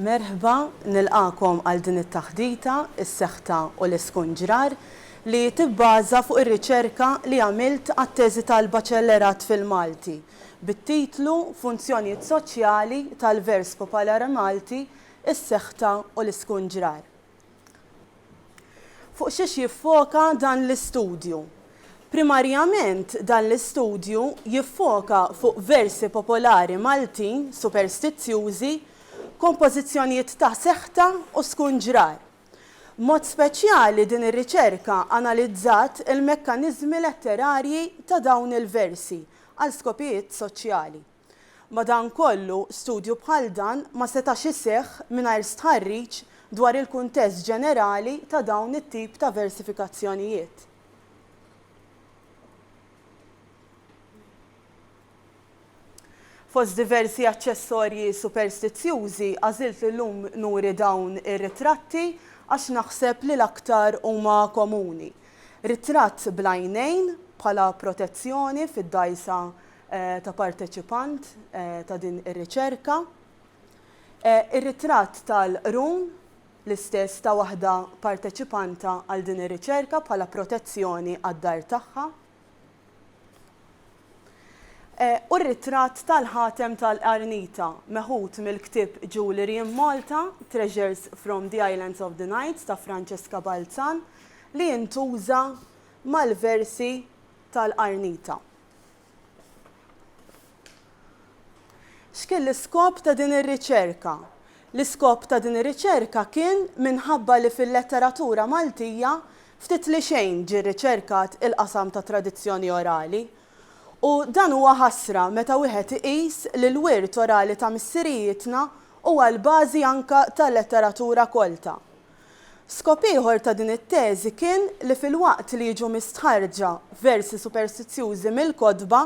Merħba, nilqagħkom għal din it-taħdita, Is-Seħta u l-Iskunġrar, li tibbaża fuq ir-riċerka li għamilt għat-teżi tal-Baċellerat fil-Malti, bit-titlu Funzjonijiet Soċjali tal-Vers Popolari Malti, Is-Seħta u l-Iskunġrar. Fuq xiex jiffoka dan l-istudju? Primarjament dan l-istudju jiffoka fuq versi popolari Maltin superstizzjużi, kompożizzjonijiet ta' seħta u skunġrar. B'mod speċjali din ir-riċerka analizzat il-mekkaniżmi letterarji ta' dawn il-versi għal skopijiet soċjali. Madankollu, studju bħal dan ma setax iseħħ mingħajr stħarriġ dwar il-kuntest ġenerali ta' dawn it-tip ta' versifikazzjonijiet. Fost diversi aċċessorji superstizzjużi, għażilt li llum nuri dawn ir-ritratti għax naħseb li l-aktar huma komuni. Ritratt bl-għajnejn bħala protezzjoni fid-dgħajsa ta' parteċipant ta' din ir-riċerka. Ir-ritratt tal-qrun l-istess ta' waħda parteċipanta għal din ir-riċerka bħala protezzjoni għad-dar tagħha. U r-ritratt tal-ħatem tal-qarnita meħud mill-ktieb Jewellery in Malta, Treasures from the Islands of the Knights ta' Francesca Balzan li jintuża mal-versi tal-qarnita. X'kien l-iskop ta' din ir-riċerka? L-iskop ta' din ir-riċerka kien minħabba li fil-letteratura Maltija ftit li xejn ġie rriċerkat il-qasam tat-tradizzjoni orali. U dan huwa ħasra meta wieħed iqis li l-wirt orali ta' missirijietna huwa l-bażi anke tal-letteratura kolta. Skop ieħor ta' din it-teżi kien li filwaqt li jiġu mistħarrġa versi superstizzjużi mill-kotba,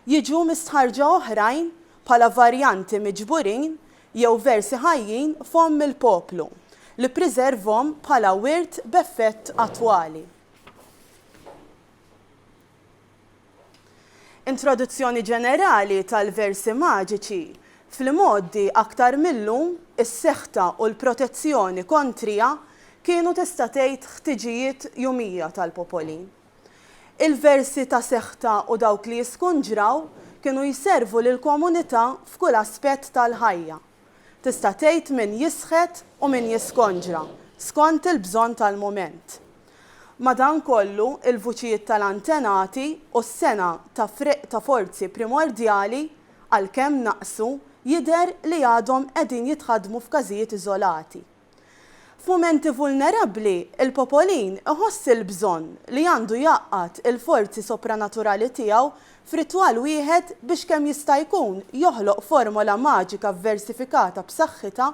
jiġu mistħarrġa oħrajn bħala varjanti miġburin jew versi ħajjin f'fomm il-poplu, li ppriservhom bħala wirt b'effett attwali. Introduzzjoni ġenerali tal-versi maġiċi, Fl-imgħoddi aktar mil-lum, is-seħta u l-protezzjoni kontrija kienu tista' tgħid ħtiġijiet jumija tal-popoli. Il-versi ta' seħta u dawk li jiskunġraw kienu jservu lill-komunità f'kull aspett tal-ħajja, Tista' tgħid min jisħet u min jiskonġra, skont il-bżonn tal-mument. Madankollu, il-vuċijiet tal-antenati u s-sengħa ta' friegħ ta' forzi primordjali, għalkemm naqsu, jidher li għadhom qegħdin jitħaddmu f'każijiet iżolati. F'mumenti vulnerabbli, il-popolin iħoss il-bżonn li għandu jgħaqqad il-forzi sopranaturali tiegħu f'ritwal wieħed biex kemm jista' jkun joħloq formola maġika vversifikata b'saħħitha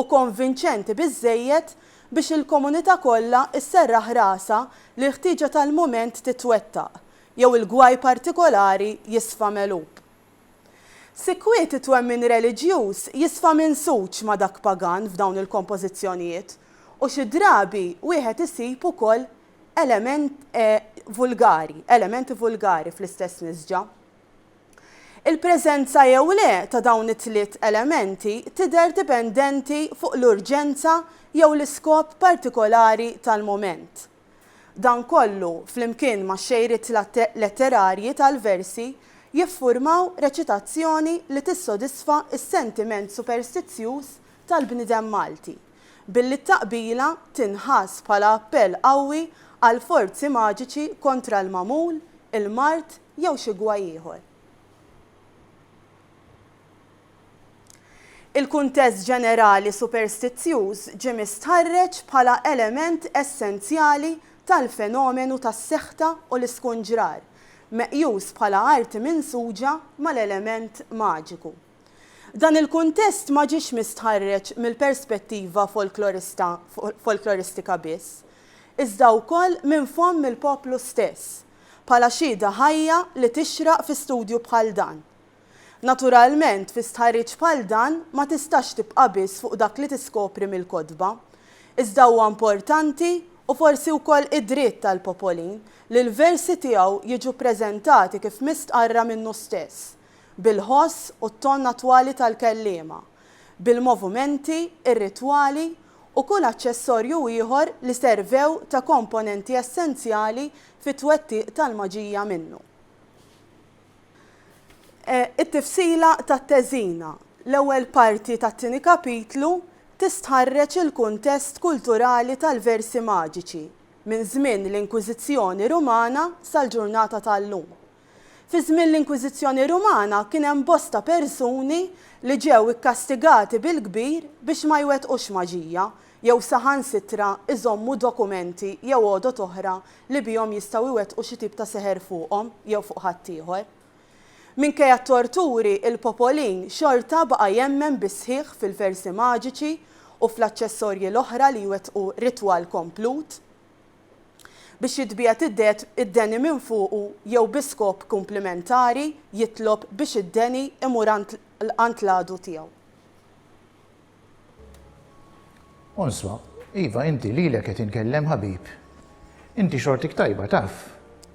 u konvinċenti biżżejjed biex il-komunità kollha sserraħ rasha li l-ħtieġa tal-mument titwettaq jew il-gwaj partikolari jisfa' megħlub. Sikwit it-twemmin reliġjuż jisfa minsuġ ma' dak pagan f'dawn il-kompożizzjonijiet u xi drabi wieħed isib ukoll element vulgari, elementi vulgari fl-istess nisġa. Il-preżenza jew le ta' dawn it-tliet elementi tidher dipendenti fuq l-urġenza jew l-iskop partikolari tal-mument. Dan kollu, flimkien max-xejriet letterarji tal-versi, jiffurmaw reċitazzjoni li tissodisfa s-sentiment superstizzjuż tal-bniedem Malti, billi t-taqbila tinħass bħala appell qawwi għal forzi maġiċi kontra l-magħmul, il-mard jew xi gwaj ieħor. Il-kuntest ġenerali superstizzjuż ġie mistħarreġ bħala element essenzjali tal-fenomenu tas-seħta u l-iskunġrar, meqjus bħala arti minsuġa mal-element maġiku. Dan il-kuntest ma ġiex mistħarreġ mill-perspettiva folklorista folkloristika biss, iżda wkoll minn fomm il-poplu stess, bħala xhieda ħajja li tixraq fi studju bħal dan. Naturalment, fi stħarriġ bħal dan ma tistax tibqa' biss fuq dak li tiskopri mill-kotba. Iżda huwa importanti, u forsi wkoll id-dritt tal-Popolin, li l-versi tiegħu jiġu ppreżentati kif mistqarra minnu stess, bil-ħoss u t-ton attwali tal-kelliema, bil-movumenti, ir-ritwali u kull aċċessorju ieħor li servew ta' komponenti essenzjali fit-twettiq tal-maġija minnu. It-tifsila tat-teżina, l-ewwel parti tat-tieni kapitlu, tistħarreġ il-kuntest kulturali tal-versi maġiċi minn żmien l-Inkwiżizzjoni Rumana sal-ġurnata tal-lum. Fi żmien l-Inkwiżizzjoni Rumana kien hemm bosta persuni li ġew ikkastigati bil-kbir biex ma jwettqux maġija jew saħansitra jżommu dokumenti jew għodod oħra li bihom jistgħu jwettqu xi tip ta' seħer fuqhom jew fuq ħaddieħor. Minkejja t-torturi, il-popolin xorta baqa' jemmen bis-sħiħ fil-versi maġiċi u fl-aċċessorji l-oħra li jwettqu ritwal komplut biex jitbiegħed id-deni minn fuqu jew bi skop kumplimentari jitlob biex id-deni imur għand l-għadu tiegħu. Għonswa, Iva, inti lilek qed inkellem ħabib. Inti xortik tajba taf.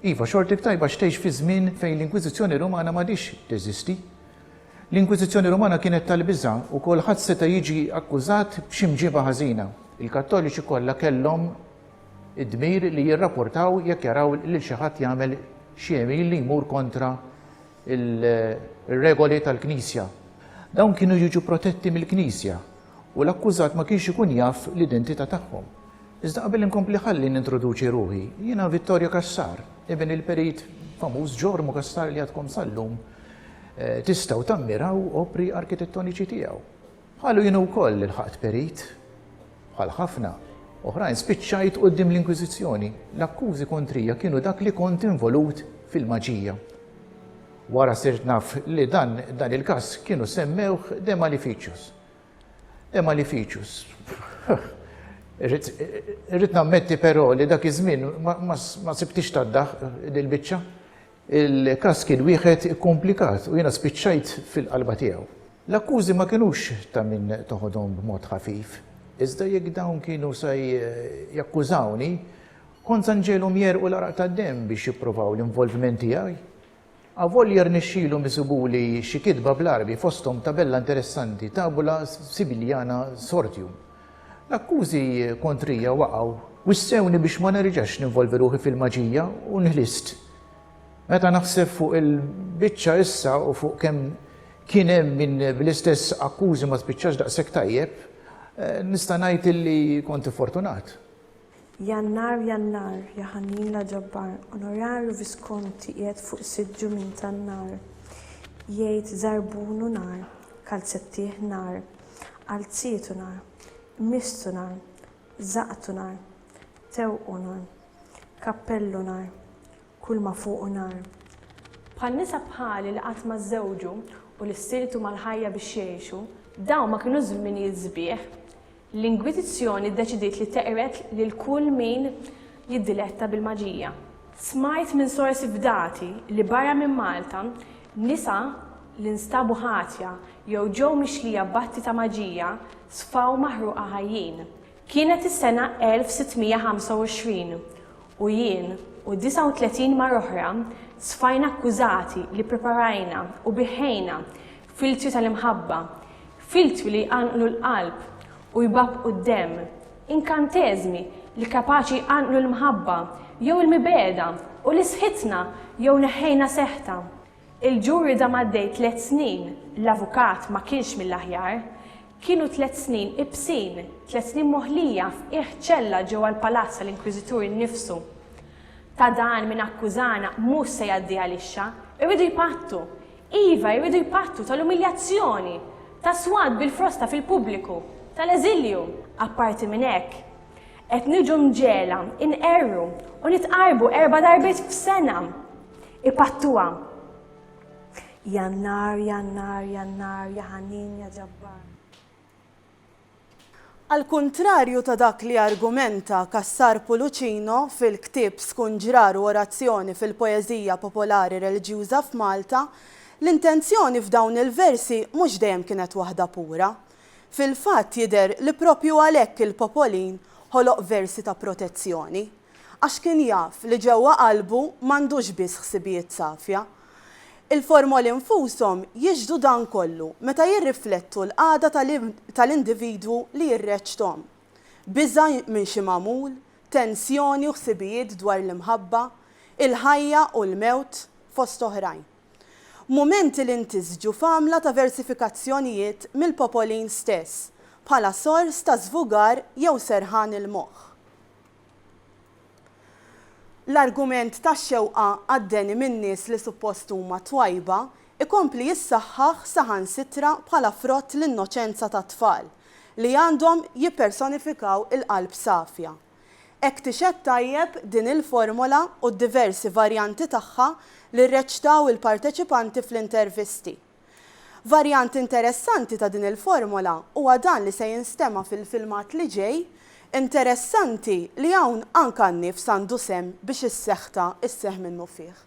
Iva, xortik tajba għax tgħix fi żmien fejn l-Inkwiżizzjoni Rumana m'għadhiex teżisti. L-Inkwiżizzjoni Rumana kienet tal-biża' u kulħadd seta' jiġi akkużat b'xi mġiba ħażina. Il-Kattoliċi kollha kellhom id-dmir li jirrapportaw jekk jaraw lil xi ħadd jagħmel xi għemil li jmur kontra il-regoli tal-Knisja. Dawn kienu jiġu protetti mill-Knisja u l-akkużat ma kienx ikun jaf l-identità tagħhom. Iżda qabel inkompli ħalli nintroduċi ruħi, jiena Vittorio Cassar, ibn il-perit famuż Jormo Cassar li għadkom sal-lum tistgħu tammiraw opri arkitettoniċi tiegħu. Qalu jien wkoll ilħaqt perit. Bħal ħafna. Oħrajn spiċċajt quddiem l-Inkwiżizzjoni. L-akkużi kontrija kienu dak li kont involut fil-maġija. Wara sirt naf li dan dan il-każ kienu semmewh de maleficius. De maleficius. Irrid nammetti però li dak iż-żmien ma sibtix tad-daħq dil-biċċa. Il-każ kien wieħed ikkumplikat u jiena spiċċajt fil-qalba tiegħu. L-akkużi ma kinux ta' min toħodhom b'mod ħafif, iżda jekk dawn kienu se jakkużawni, kont se nġegħelhom jegħrqu l-għaraq tad-demm biex jipprovaw l-involviment tiegħi. Avolja rnexxielhom isibuli xi kitba bl-Għarbi fosthom tabella interessanti, Tabula Sibiliana Sortium, L-akkużi kontrija waqgħu. Wissewni biex ma nerġax ninvolvi ruħi fil-maġija u nħlist. Meta naħseb fuq il-biċċa issa u fuq kemm kien hemm min bl-istess akkużi ma spiċċax daqshekk tajjeb, nista' ngħid illi kont iffortunat. Jannar, Jannar, ja ħannin la ġabbar, Onorarju Viskonti qiegħed fuq siġġu minn tan-nar, Jgħid żarbunu nar, kalzettih nar, qalzietu nar, qmiżtu nar, żaqqtu nar, tewqu nar, kappellu nar, kull ma fuqu nar. Bħal nisa bħali li qatt ma żżewġu u li stiltu mal-ħajja biex jgħixu, dawn ma kienux żminijiet sbieħ. L-Inkwiżizzjoni ddeċidiet li teqred lil kull min jiddiletta bil-maġija. Smajt minn sorsi fdati li barra minn Malta, nisa li nstabu ħatja jew ġew mixlija b'atti ta' maġija sfaw maħruqa ħajjin. Kienet is-sena 1625 u jien u 39 mara oħra sfajna akkużati li ppreparajna u biħħejna Filtri tal-imħabba, filtri li jqanqlu l-qalb u jbabbqu d-demm, inkanteżmi li kapaċi jqanqlu l-mħabba jew il-mibegħda u li sħitna jew neħħejna seħħtha. Il-ġur ridha m'għaddej tliet snin, l-avukat ma kienx mill-aħjar. Kienu tliet snin ibsin, tliet snin moħlija f'qiegħ ċella ġewwa l-palazz tal-Inkwiżitur innifsu. Ta' dan min akkużana mhux se jgħaddi għalixxa, irridu jpattu! Iva, jridu jpattu tal-umiljazzjoni, tas-swat bil-frosta fil-pubbliku, tal-eżilju. Apparti minn hekk, qed niġu mġegħla nqerru u nitqarrbu erba' darbiet f'sena. Ipattuha. Jannar, Jannar, Jannar, ja ħanin, ja ġabbar. Għall-kuntrarju ta' dak li argumenta Cassar Pulucino fil-ktieb Skunġrar u Orazzjoni fil-Poeżija Popolari Reliġjuża f'Malta, l-intenzjoni f'dawn il-versi mhux dejjem kienet waħda pura. Fil-fatt jidher li proprju għalhekk il-Popolin ħoloq versi ta' protezzjoni. Għax kien jaf li ġewwa qalbu m'għandux biss ħsibijiet safja. Il-formoli nfushom jixhdu dan kollu meta jirriflettu l-qagħda tal-individwu li jirreċthom. Biża' minn xi magħmul, tensjoni u ħsibijiet dwar l-imħabba, il-ħajja u l-mewt, fost oħrajn. Mumenti li ntisġu f'għamla ta' versifikazzjonijiet mill-popolin stess, bħala sors ta' żvugar jew serħan il-moħħ. L-argument tax-xewqa għad-deni minn nies li suppost huma twajba jkompli jissaħħaħ saħansitra bħala frott l-innoċenza tat-tfal li għandhom jippersonifikaw il-qalb safja. Hekk tixhed tajjeb din il-formola u d-diversi varjanti tagħha li rreċtaw il-parteċipanti fl-intervisti. Varjant interessanti ta' din il-formola huwa dan li se jinstema' fil-filmat li ġej, interessanti li hawn anke għan-nifs għandu sehem biex is-seħta sseħħ minnufih.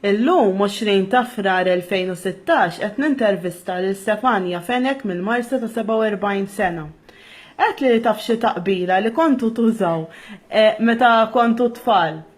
Illum, 20 ta' Frar 2016, qed nintervista lil Stefania Fenech mill-Marsa ta' 47 sena. Għedtli li taf xi taqbila li kontu tużaw meta kontu tfal.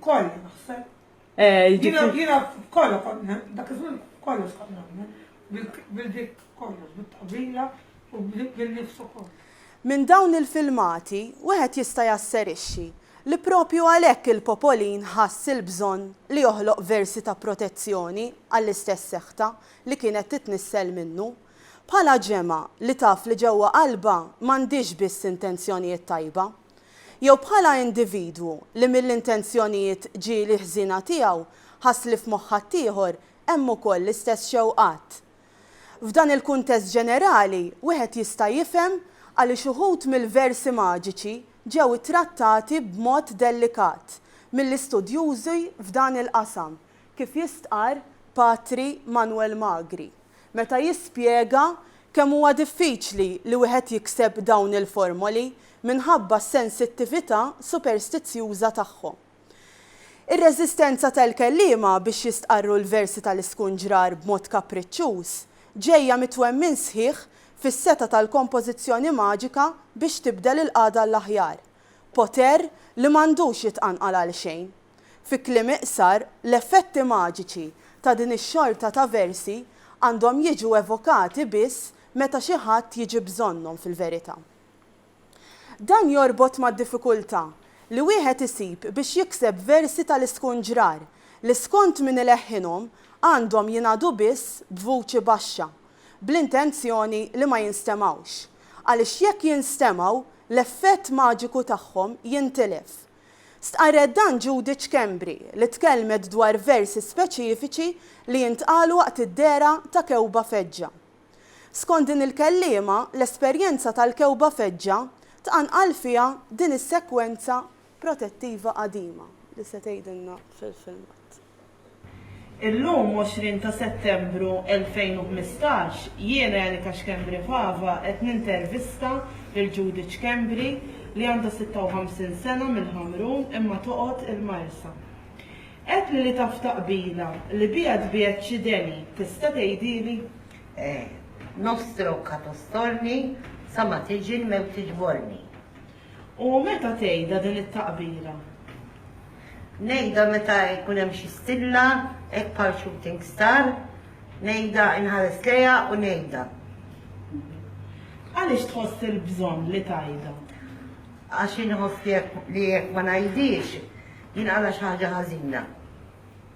Kollha naħseb. Eh, jiġifieri- Jiena kollha kont dak iż-żmien kollox kont nagħmel bil-dik kollox, bit-taqbila u bil-nifs ukoll. Minn dawn il-filmati wieħed jista' jasserixxi li proprju għalhekk il-Popolin ħass il-bżonn li joħloq versi ta' protezzjoni għall-istess seħta li kienet titnissel minnu. Bħala ġemgħa li taf li ġewwa qalbha m'għandhiex biss intenzjonijiet tajba. Jew bħala individwu li mill-intenzjonijiet ġieli ħżiena tiegħu ħass li f'moħħ ħaddieħor hemm ukoll l-istess xewqat. F'dan il-kuntest ġenerali, wieħed jista' jifhem għaliex uħud mill-versi maġiċi ġew ittrattati b'mod dellikat mill-istudjużi f'dan il-qasam, kif jistqarr Patri Manuel Magri. meta jispjega kemm huwa diffiċli li wieħed jikseb dawn il-formoli minħabba s-sensittività superstizzjuża tagħhom. Ir-reżistenza tal-kelliema biex jistqarru l-versi tal-iskunġrar b'mod kapriċċuż ġejja mit-twemmin sħiħ fis-setgħa tal-kompożizzjoni maġika biex tibdel il-qagħda għall-aħjar. poter li m'għandux jitqanqal għal xejn. Fi kliem iqsar, l-effetti maġiċi ta' din ix-xorta ta' versi għandhom jiġu evokati biss meta xi ħadd jiġi bżonnhom fil-verità. Dan jorbot mad-diffikultà li wieħed isib biex jikseb versi tal-iskunġrar li skont min ileħħinhom għandhom jingħadu biss b'vuċi baxxa bl-intenzjoni li ma jinstemgħux, għaliex jekk jinstemgħu, l-effett maġiku tagħhom jintilef. Stqarret dan Judy Schembri li tkellmet dwar versi speċifiċi li jintqalu waqt id-dehra ta' kewba feġġa. Skont din il-kelliema, l-esperjenza tal-kewba feġġa tqanqal fiha din is-sekwenza protettiva qadima li se tgħidilna fil-filmat. Illum 20 ta' Settembru 2015 jien Erika Schembri Fava qed nintervista lil Judith Schembri li għandha 56 sena mill-Ħamrun imma toqgħod il-Marsa. Għedtli li taf ta' qbila li biha tbiegħed xi deni, tista' tgħidili? Eh, nofs trokka tostorni sa ma tiġi l-mewt tiġborni. U meta tgħidha din it-taqbira? Ngħidha meta jkun hemm xi stilla, hekk bħal shooting star, ngħidha, inħares lejha u ngħidha. Għaliex tħoss il-bżonn li tgħidha? Għax inħoss li jekk ma ngħidhiex, jinqala' xi ħaġa ħażina.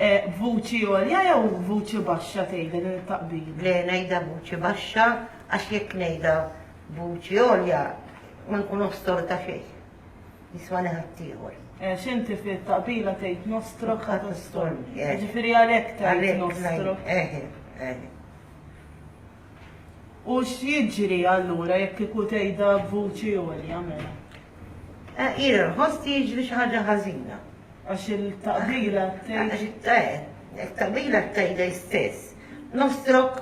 B'vuċi għolja jew b'vuċi baxxa tgħidha din it-taqbida? Le, ngħidha b'vuċi baxxa għax jekk ngħidha b'vuċi għolja ma nkun ostor ta' xejn. Jiswani ħaddieħor. Għax inti fit-taqbila tgħid nostro kat ostorni. Eh. Ġifieri għalhekk tgħid Għalhekk nostro. ngħid- eħe, eħe. U x'jiġri allura jekk kieku tgħidha b'vuċi għolja mela? Eh, Jiena nħoss li jiġri xi ħaġa ħażina. Għax il-taqbila tgħid. Eh, il-taqbila tgħid hi stess. Nostrok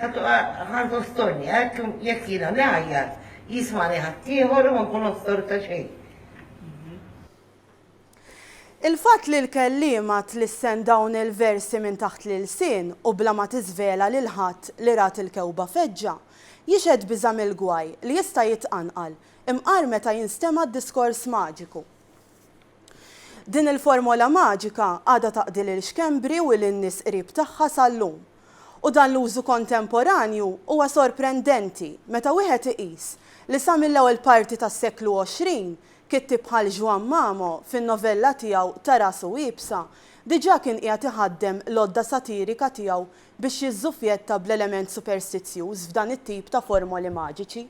ħantu storni, hekk jekk jiena ngħajjat, jismani ħaddieħor u ma nkun ostor ta' xejn. Il-fatt li l-kelliema tlissen dawn il-versi minn taħt l-ilsien u bla ma tiżvela lil ħadd li rat il-kewba feġġa, jixhed biża' mill-gwaj li jista' jitqanqal, imqar meta jinstema' d-diskors maġiku. Din il-formola maġika għadha taqdi lil Schembri u lin-nies qrib tagħha sal-lum. U dan l-użu kontemporanju huwa sorprendenti meta wieħed iqis li sa mill-ewwel parti tas-seklu 20, kittieb bħal Juan Mamo fin-novella tiegħu Ta' Rasu Iebsa diġà kien qiegħed iħaddem l-għodda satirika tiegħu biex jiżżuffjetta bl-element superstizzjuż f'dan it-tip ta' formoli maġiċi.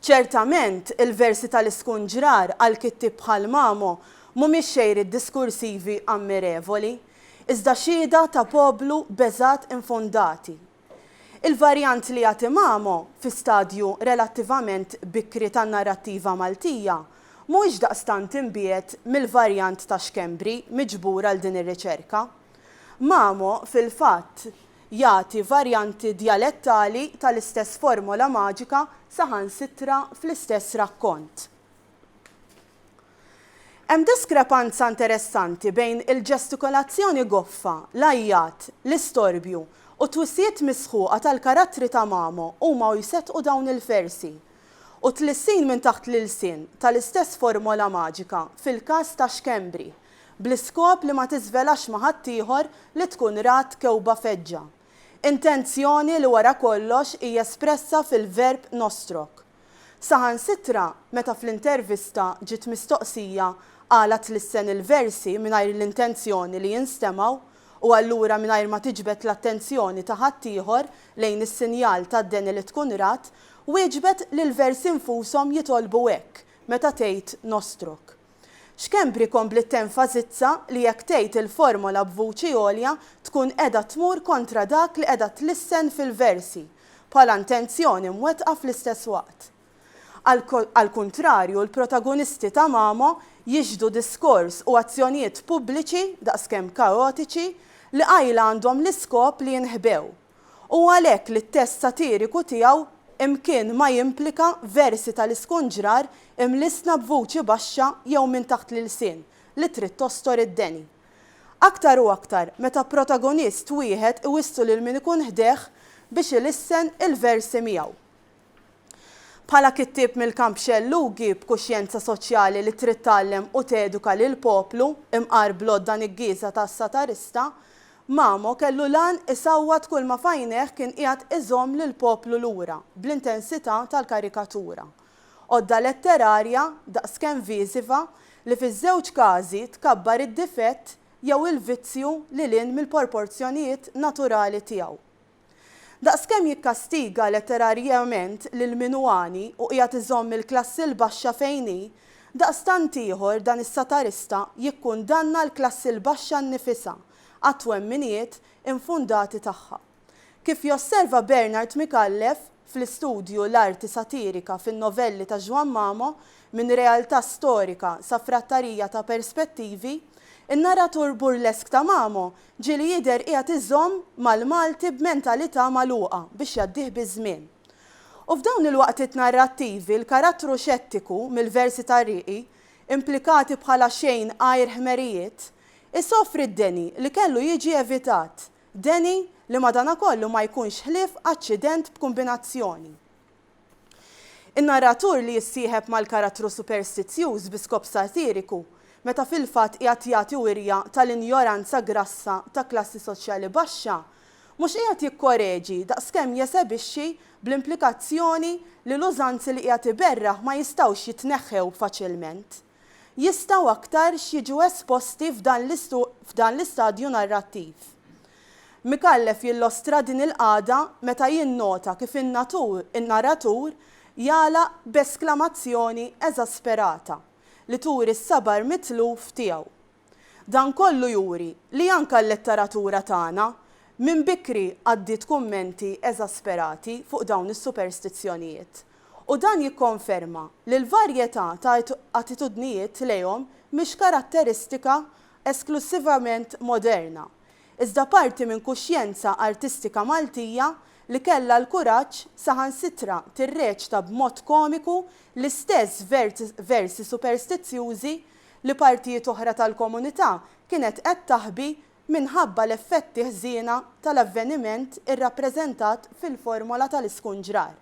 Ċertament, il-versi tal-iskunġrar għal kittieb bħal Mamo mhumiex xejriet diskursivi ammirevoli, iżda xhieda ta' poplu beżgħat infondati. Il-varjant li jagħti Mamo fi stadju relattivament bikri tan-narrattiva Maltija mhuwiex daqstant imbiegħed mill-varjant ta' Schembri miġbur għal din ir-riċerka. Mamo, fil-fatt, jagħti varjanti djalettali tal-istess formola maġika saħansitra fl-istess rakkont. Hemm diskrepanza interessanti bejn il-ġestikolazzjoni goffa, l-għajjat, l-istorbju, u t-twissijiet misħuqa tal-karattri ta' Mamo huma u jseddqu dawn il-versi, u t-tlissin minn taħt l-ilsien tal-istess formola maġika fil-każ ta' Schembri. bl-iskop li ma tiżvelax ma' ħaddieħor li tkun rat kewba feġġa, intenzjoni li wara kollox hi espressa fil-verb nostrok. Saħansitra meta fl-intervista ġiet mistoqsija għala tlissen il-versi mingħajr l-intenzjoni li jinstemgħu u allura mingħajr ma tiġbed l-attenzjoni ta' ħaddieħor lejn is-sinjal tad-deni li tkun rat, wieġbet li l-versi nfushom jitolbu hekk meta tgħid nostrok. Schembri kompliet tenfasizza li jekk tgħid il-formola b'vuċi għolja tkun qiegħda tmur kontra dak li qiegħda tlissen fil-versi bħala intenzjoni mwettqa fl-istess waqt. Għall-kuntrarju l-protagonisti ta' Mamo jixhdu diskors u azzjonijiet pubbliċi daqskemm kaotiċi li qajla għandhom l-iskop li jinħbew. Hu għalhekk li t-test satiriku tiegħu imkien ma jimplika versi tal-iskunġrar imlissna b'vuċi baxxa jew minn taħt l-ilsien li trid tostor id-deni. Aktar u aktar meta protagonist wieħed iwissu lil min ikun ħdejh biex ilissen il-versi miegħu. Bħala kittieb mill-kamp xellugi b'kuxjenza soċjali li trid tgħallem u teduka lill-poplu, imqar bl-għodda niggieża tas-satarista, Mamo kellu l-għan isawwat kulma f'għajnejh kien qiegħed iżomm lill-poplu lura bl-intensità tal-karikatura. Għodda letterarja daqskemm viżiva li fiż-żewġ każi tkabbar id-difett jew il-vizzju lil hinn mill-porporzjonijiet naturali tiegħu. Daqskemm jikkastiga letterarjament lil min hu għani u qiegħed iżomm il-klassi l-baxxa fejn hi, daqstant ieħor dan is-satarista jikkundanna l-klassi l-baxxa nnifisha għat-twemminijiet infondati tagħha. Kif josserva Bernard Micallef, fl-istudju l-arti satirika fin-novelli ta' Juan Mamo, minn realtà storika sa frattarija ta' perspettivi, in-narratur burlesk ta' Mamo ġieli jidher qiegħed iżomm mal-Malti b'mentalità magħluqa biex jgħaddih biż-żmien. U f'dawn il-waqtiet narrattivi l-karattru xettiku mill-versi ta' Riqi, implikati bħala xejn għajr ħmerijiet, isofri d-deni li kellu jiġi evitat Deni, li madanakollu ma jkunx ħlief aċċident b'kumbinazzjoni. In-narratur li jissieħeb mal-karattru superstizzjuż bi skop satiriku, meta fil-fatt qiegħed jagħti wirja tal-injoranza grassa ta' klassi soċjali baxxa, mhux qiegħed jikkoreġi daqskemm jesebixxi bl-implikazzjoni li l-użanzi li qiegħed iberraħ ma jistgħux jitneħħew faċilment. jistgħu aktarx jiġu esposti f'dan f'dan l-istadju narrattiv. Micallef jillostra din il-qagħda meta jinnota kif in-natur in-naratur jagħlaq b'esklamazzjoni eżasperata li turi s-sabar mitluf tiegħu Dan kollu juri li anke l-letteratura tagħna minn bikri għaddiet kummenti eżasperati fuq dawn is-superstizzjonijiet. U dan jikkonferma li l-varjetà ta' attitudnijiet lejhom mhix karatteristika esklussivament moderna, iżda parti minn kuxjenza artistika Maltija li kellha l-kuraġġ saħansitra tirreċta b'mod komiku l-istess versi superstizzjużi li partijiet oħra tal-komunità kienet qed taħbi minħabba l-effetti ħżiena tal-avveniment irrappreżentat fil-formola tal-iskunġrar.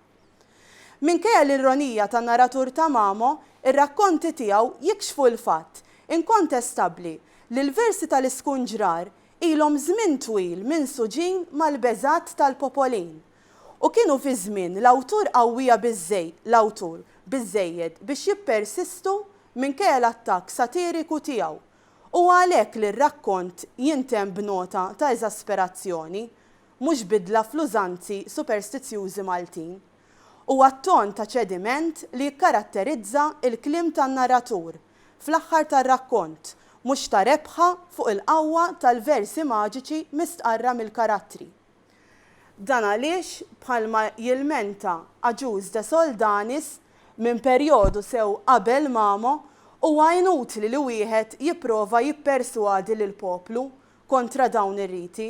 Minkejja l-ironija tan-naratur ta' Mamo, ir-rakkonti tiegħu jikxfu l-fatt inkontestabbli li l-versi tal-iskunġrar ilhom żmien twil minsuġin mal-beżgħat tal-popolin, U kienu fi żmien l-awtur qawwija biżżej, l-awtur, biżżejjed biex jippersistu minkejja l-attakk satiriku tiegħu. Huwa għalhekk li r-rakkont jintemm b'nota ta' eżasperazzjoni, mhux bidla fl-użanzi superstizzjużi Maltin. Huwa t-ton ta' ċediment li jikkaratterizza l-kliem tan-narratur fl-aħħar tar-rakkont, mhux ta' rebħa fuq il-qawwa tal-versi maġiċi mistqarra mill-karattri. Dan għaliex, bħalma jilmenta Agius de Soldanis, minn perjodu sew qabel Mamo, huwa inutli li wieħed jipprova jipperswadi lill-poplu kontra dawn ir-riti,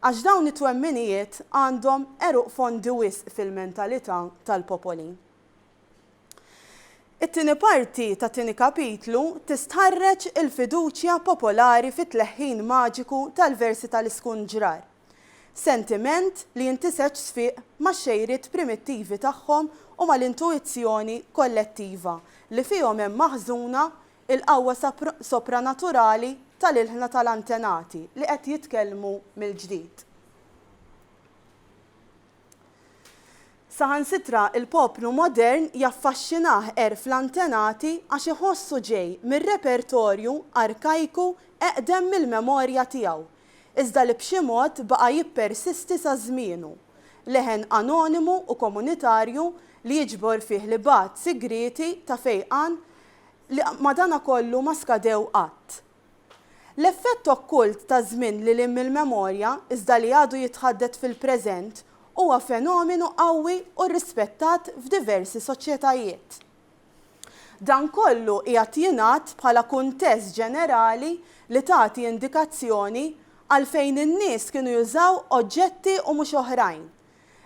għax dawn it-twemminijiet għandhom għeruq fondi wisq fil-mentalità tal-popoli. It-tieni parti tat-tieni kapitlu tistħarreġ il-fiduċja popolari fit-tleħħin maġiku tal-versi tal-iskunġrar, sentiment li jintiseġ sfiq max-xejriet primittivi tagħhom u mal-intuizzjoni kollettiva li fihom hemm maħżuna l-qawwa sopranaturali tal-ilħna tal-antenati li qed jitkellmu mill-ġdid. Saħansitra l-poplu modern jaffaxxinah għerf l-antenati għax iħossu ġej mir-repertorju arkajku eqdem mill-memorja tiegħu, iżda li b'xi mod baqa' jippersisti sa żmienu, leħen anonimu u komunitarju li jiġbor fih l-ibgħat sigrieti ta' fejqan li madanakollu ma skadew qatt. L-effett okkult ta' żmien lil hinn mill-memorja, iżda li għadu jitħaddet fil-preżent, huwa fenomenu qawwi u rrispettat f'diversi soċjetajiet. Dan kollu qiegħed jingħad bħala kuntest ġenerali li tagħti indikazzjoni għalfejn in-nies kienu jużaw oġġetti u mhux oħrajn,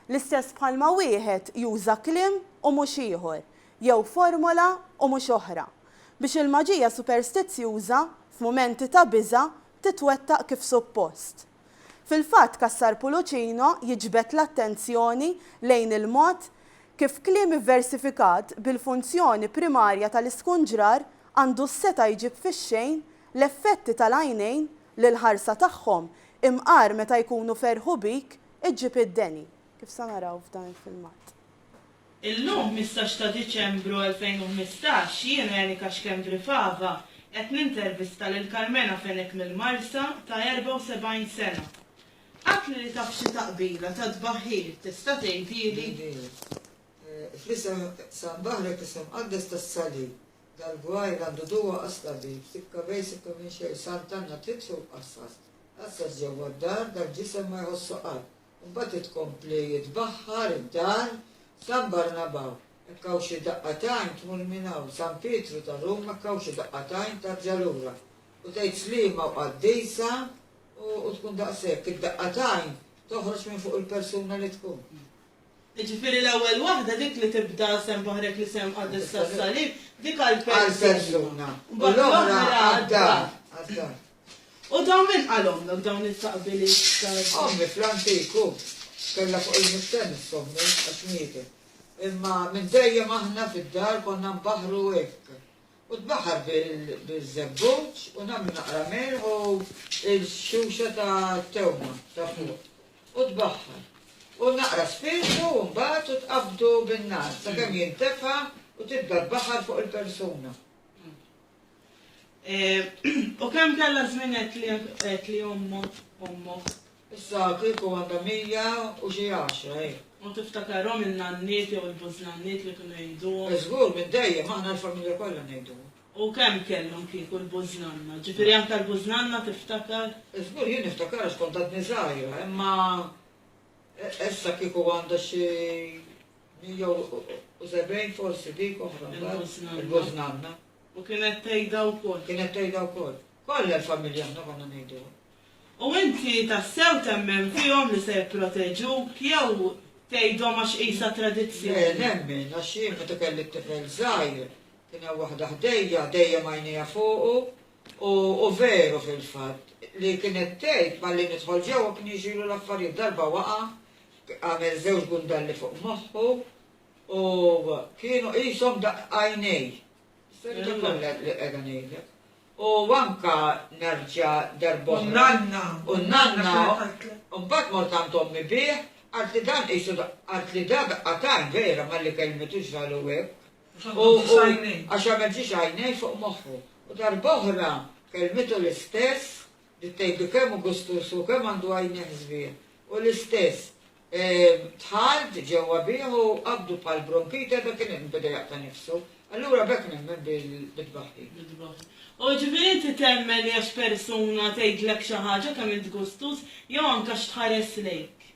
l-istess bħalma wieħed juża kliem u mhux ieħor, jew formola u mhux oħra. biex il-maġija superstizzjuża, f'mumenti ta' biża', titwettaq kif suppost. Fil-fatt Cassar Pulucino jiġbed l-attenzjoni lejn il-mod kif kliem ivversifikat bil-funzjoni primarja tal-iskunġrar għandu s-setgħa jġib fix-xejn l-effetti tal-għajnejn li l-ħarsa tagħhom, imqar meta jkunu ferħu bik, iġġib id-deni, kif se naraw f'dan il-filmat. Illum, ħmistax ta' Diċembru 2015, jiena, Janika Schembri Fava, qed nintervista lil Karmena Fenech mill-Marsa ta' 74 sena. Għadtli li taf xi taqbila ta' tbaħħir, tista' tgħidili? Fl-isem San Baħrek, isem mqaddes tas-Salib, dal-gwajr għandu duwa għas-tabib, sikka bejn sikka minn xejn, Sant'Anna trid sur qassas, qassas ġewwa d-dar, dal-ġisem ma jħossu qatt, Mbagħad hi tkompli tbaħħar id-dar San Barnabà, hekk hawn xi daqqa t'għajn tmur minn hawn, San Pietru ta' Ruma hekk hawn xi daqqa t'għajn tarġa' lura, u tgħid Sliema u Qaddisa u u tkun daqshekk, id-daqqa t'għajn toħroġ minn fuq il-persuna li tkun. Jiġifieri l-ewwel waħda dik li tibda Sehem Baħrek l-Isem Mqaddes tas-Salib, dik għall-persuna. Għall-persuna. U l-oħra għad-dar. U dawn min qalhomlok dawn il-taqbiliet tal-. Ommi fl-antiku kellha fuq il-mistenn issommi għax mietet. Imma minn dejjem aħna fid-dar konna nbaħħru hekk. U tbaħħar biż-żebbuġ u nagħmlu naqra milħ u l-xuxa ta' tewma ta' fuq. U tbaħħar. U naqra spirtu u mbagħad u tqabbdu bin-nar sakemm jintefa u tibda tbaħħar fuq il-persuna. U kemm kellha żmien għedt li ommu, ommok? Issa kieku għandha mija u xi għaxra, hi. U tiftakarhom in-nanniet jew il-bużnanniet li kienu jgħiduhom? Żgur, minn dejjem, aħna l-familja kollha ngħiduhom. U kemm kellhom kieku l-bużnanna? Ġifieri anke l-bużnanna tiftakar? Żgur, jien niftakar għax kont għadni żgħira, imma. Essa kieku għandha xi 170 forsi dik oħra. Il-Bożnanna. U kienet tgħidha wkoll. Kienet tgħidha wkoll. Kollha l-familja aħna konna ngħidu. U inti tassew temmen fihom li se jipproteġuk jew tgħidhom għax qisha tradizzjoni? Le, nemmen, għax jien meta kelli t-tifel żgħir, kien hemm waħda ħdejja, dejjem għajnejha fuqu, U hu veru fil-fatt, li kienet tgħid malli nidħol ġewwa kien jiġrilu l-affarijiet, darba waqa', għamel żewġ gundalli fuq moħħu, u kienu qishom daqq għajnej. Is-serita kollha li qiegħda ngħidlek. U anke nerġa' darb'oħra. U n-nanna. U n-nanna. U mbagħad mort għand ommi bih, qaltli dan qisu qaltli da daqqa t'għajn vera malli kellmitu ġralhu hekk. U għax għamel ġiex għajnejh fuq moħħu. U darb'oħra kellmitu l-istess, bdiet tgħidlu kemm hu gustuż hu, kemm għandu għajnejh sbieħ. U l-istess, dħalt ġewwa bih u qabdu bħal bronkite, dak kien qed beda jaqta' nifsu. Allura b'hekk nemmen bit-tbaħħir. Bit-tbaħħir. U ġifieri inti temmen li għax persuna tgħidlek xi ħaġa kemm int gustuż, jew anke għax tħares lejk.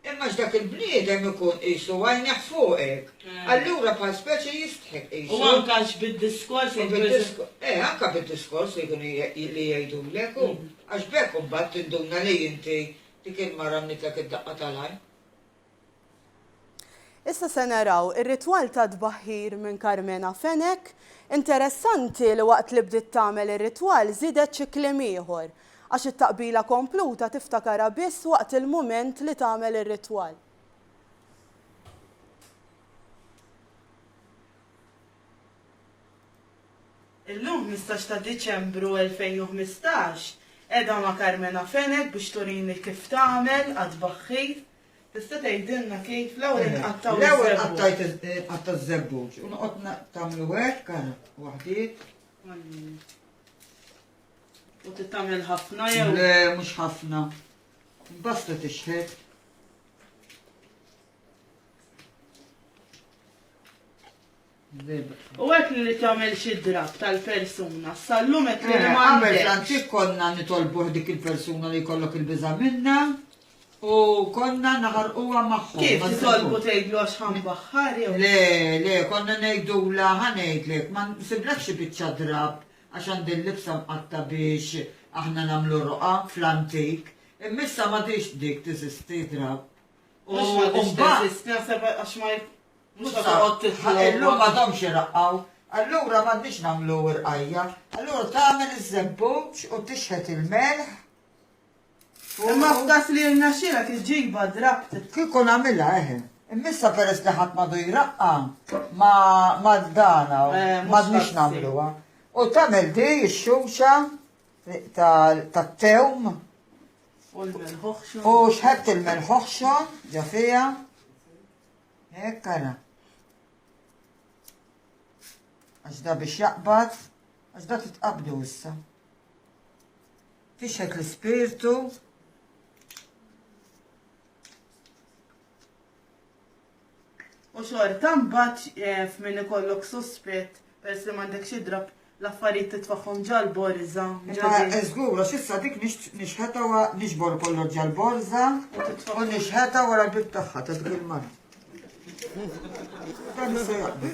Imma x'dak il-bniedem ikun qisu għajnejh fuqek, allura bħal speċi jistħi tqisu. U anke għax bid-diskors li jkun. Eh, anke bid-diskors li jkunu li jgħidulek hu. Għax b'hekk imbagħad tinduna li inti dik il-mara mnitlek id-daqqa tal-għajn. Issa se naraw ir-ritwal tat-tbaħħir minn Karmena Fenech. Interessanti li waqt li bdiet tagħmel ir-ritwal żiedet xi kliem ieħor. Għax it-taqbila kompluta tiftakarha biss waqt il-mument li tagħmel ir-ritwal. Illum, ħmistax ta' Diċembru 2015, qiegħda ma' Carmena Fenech biex turini kif tagħmel għat-tbaħħir. Tista' tgħidilna kif? L-ewwel inqattgħu ż-żebbuġ. L-ewwel qattajt inqatta' ż-żebbuġ u noqgħod tagħmlu hekk, ara, waħdiet. U tittamel ħafna jew? Le, mhux ħafna. Basta tixħet. U għek li tagħmel xi drab tal-persuna, sallum qed li eh, ma għamel antik konna nitolbu dik il-persuna li jkollok il-biża' minna u konna naħarquha magħhom. Kif titolbu tgħidlu għax ħambaħħar jew? Le, le, konna ngħidula ħanejdlek, ma nsiblek xi biċċa drab għax għandi l-libsa mqatta' biex aħna nagħmlu ruqa fl-antik, imma issa m'għadhiex dik teżisti drapp. U mbagħad. Naħseb għax ma mhux ħa toqgħod tifla. Illum m'għadhomx iraqqgħu. Allura m'għandniex nagħmlu rqajja. Allura tagħmel iż-żebbuġ u tixħet il-melħ Imma f'dak li rnexxielek iġġibha drabt. Kieku nagħmilha eħe. Imma issa peress li ħadd m'għadu jraqqa ma ma dana m'għadniex nagħmluha. U tagħmel di x-xumxa tat-tewm. U l-melħoħxon. U xħebt il-melħoħxon ġo fiha. Hekk ara. Għax da biex jaqbad, għax da titqabdu issa. Tixhed l-ispirtu. U xorta mbagħad eh, f'min ikollok suspett peress li m'għandek xi drab l-affarijiet titfaħħom ġal-borża. Eżgur, għax issa dik nixħeta wa nixbor kollu ġal-borża u nixħeta wara l-bib tagħha ta' dik il-mar. Dan se jaqbel.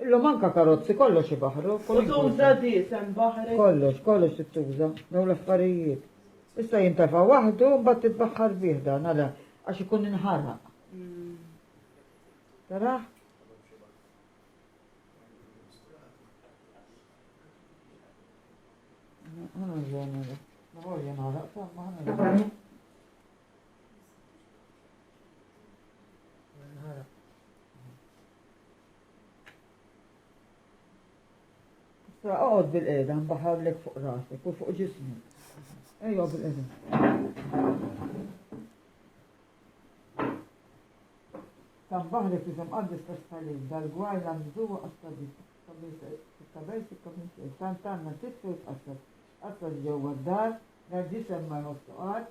Illum anke karozzi kollox ibaħħru. U tuża diesem baħri. Kollox, kollox trid tuża dawn l-affarijiet. Issa jintefa' waħdu u mbagħad titbaħħar bih dan għala għax ikun inħaraq. Taraħ? Ħana ġena, ma ħorja naħraq, ma ħana ġena. Issa oqgħod bil-qiegħda mbaħarlek fuq rasek u fuq ġismi. Ejja bil-qiegħda. Sabbaħ li fizem għaddis kastalim, dal-gwar la mżuwa għastadim, tabel sikka minn xejn, tant għanna titfu jitqassas, qassas ġewwa d-dar, la ġisem ma jħossu qatt,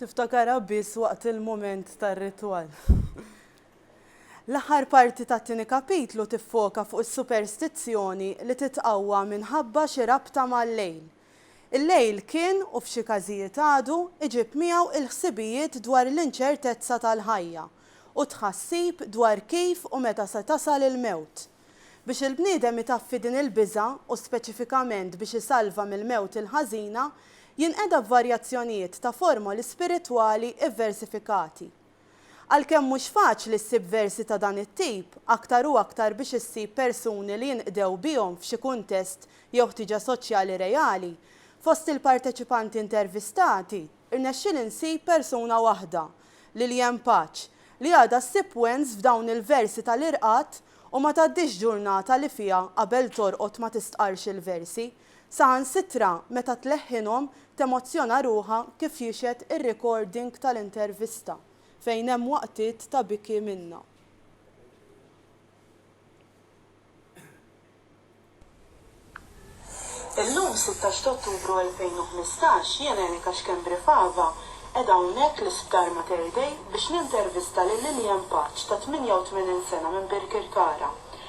Tiftakarha biss waqt il-mument tar-ritwal. L-aħħar parti tat-tieni kapitlu tiffoka fuq is-superstizzjoni li titqawwa minħabba xi rabta mal-lejl. Il-lejl kien, u f'xi każijiet għadu, iġib miegħu il-ħsibijiet dwar l-inċertezza tal-ħajja u t-tħassib dwar kif u meta se tasal il-mewt. Biex il-bniedem itaffi din il-biża' u speċifikament biex isalva mill-mewt il-ħażina, jinqeda b'varjazzjonijiet ta' formoli spiritwali vversifikati. Għalkemm mhux faċli ssib versi ta' dan it-tip, aktar u aktar biex issib persuni li jinqdew bihom f'xi kuntest jew ħtieġa soċjali reali, fost il-parteċipanti intervistati, rnexxieli nsib persuna waħda, Lillian Paċ, li għadha ssib wens f'dawn il-versi tal-irqad u ma tgħaddix ġurnata li fiha qabel torqod ma tistqarrx il-versi. Saħansitra meta tleħħinhom temozzjona ruħha kif jixhed ir-recording tal-intervista fejn hemm waqtiet ta' biki minnha. Illum, sittax t'Ottubru 2015, jien Erika Schembri Fava qiegħda hawnhekk l-Isptar Mater Dei biex nintervista lil Lilian Paċ ta' 88 sena minn Birkirkara.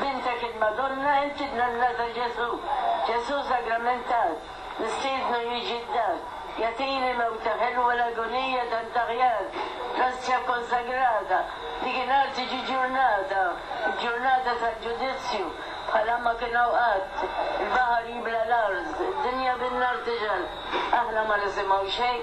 Bintek il-Madonna inti bnanna ta' Ġesù. Ġesù sagramentat, nistiednu jiġi d-dar. Jagħtini mewta ħelwa l-agonija tant aħjar. L-Ostja kkonsagrata, dikinhar tiġi ġurnata, il-ġurnata tal-ġudizzju, bħalha ma kien hawn qatt. Il-baħar jibla' l-art, id-dinja bin-nar tixgħel. Aħna ma nisimgħu xejn.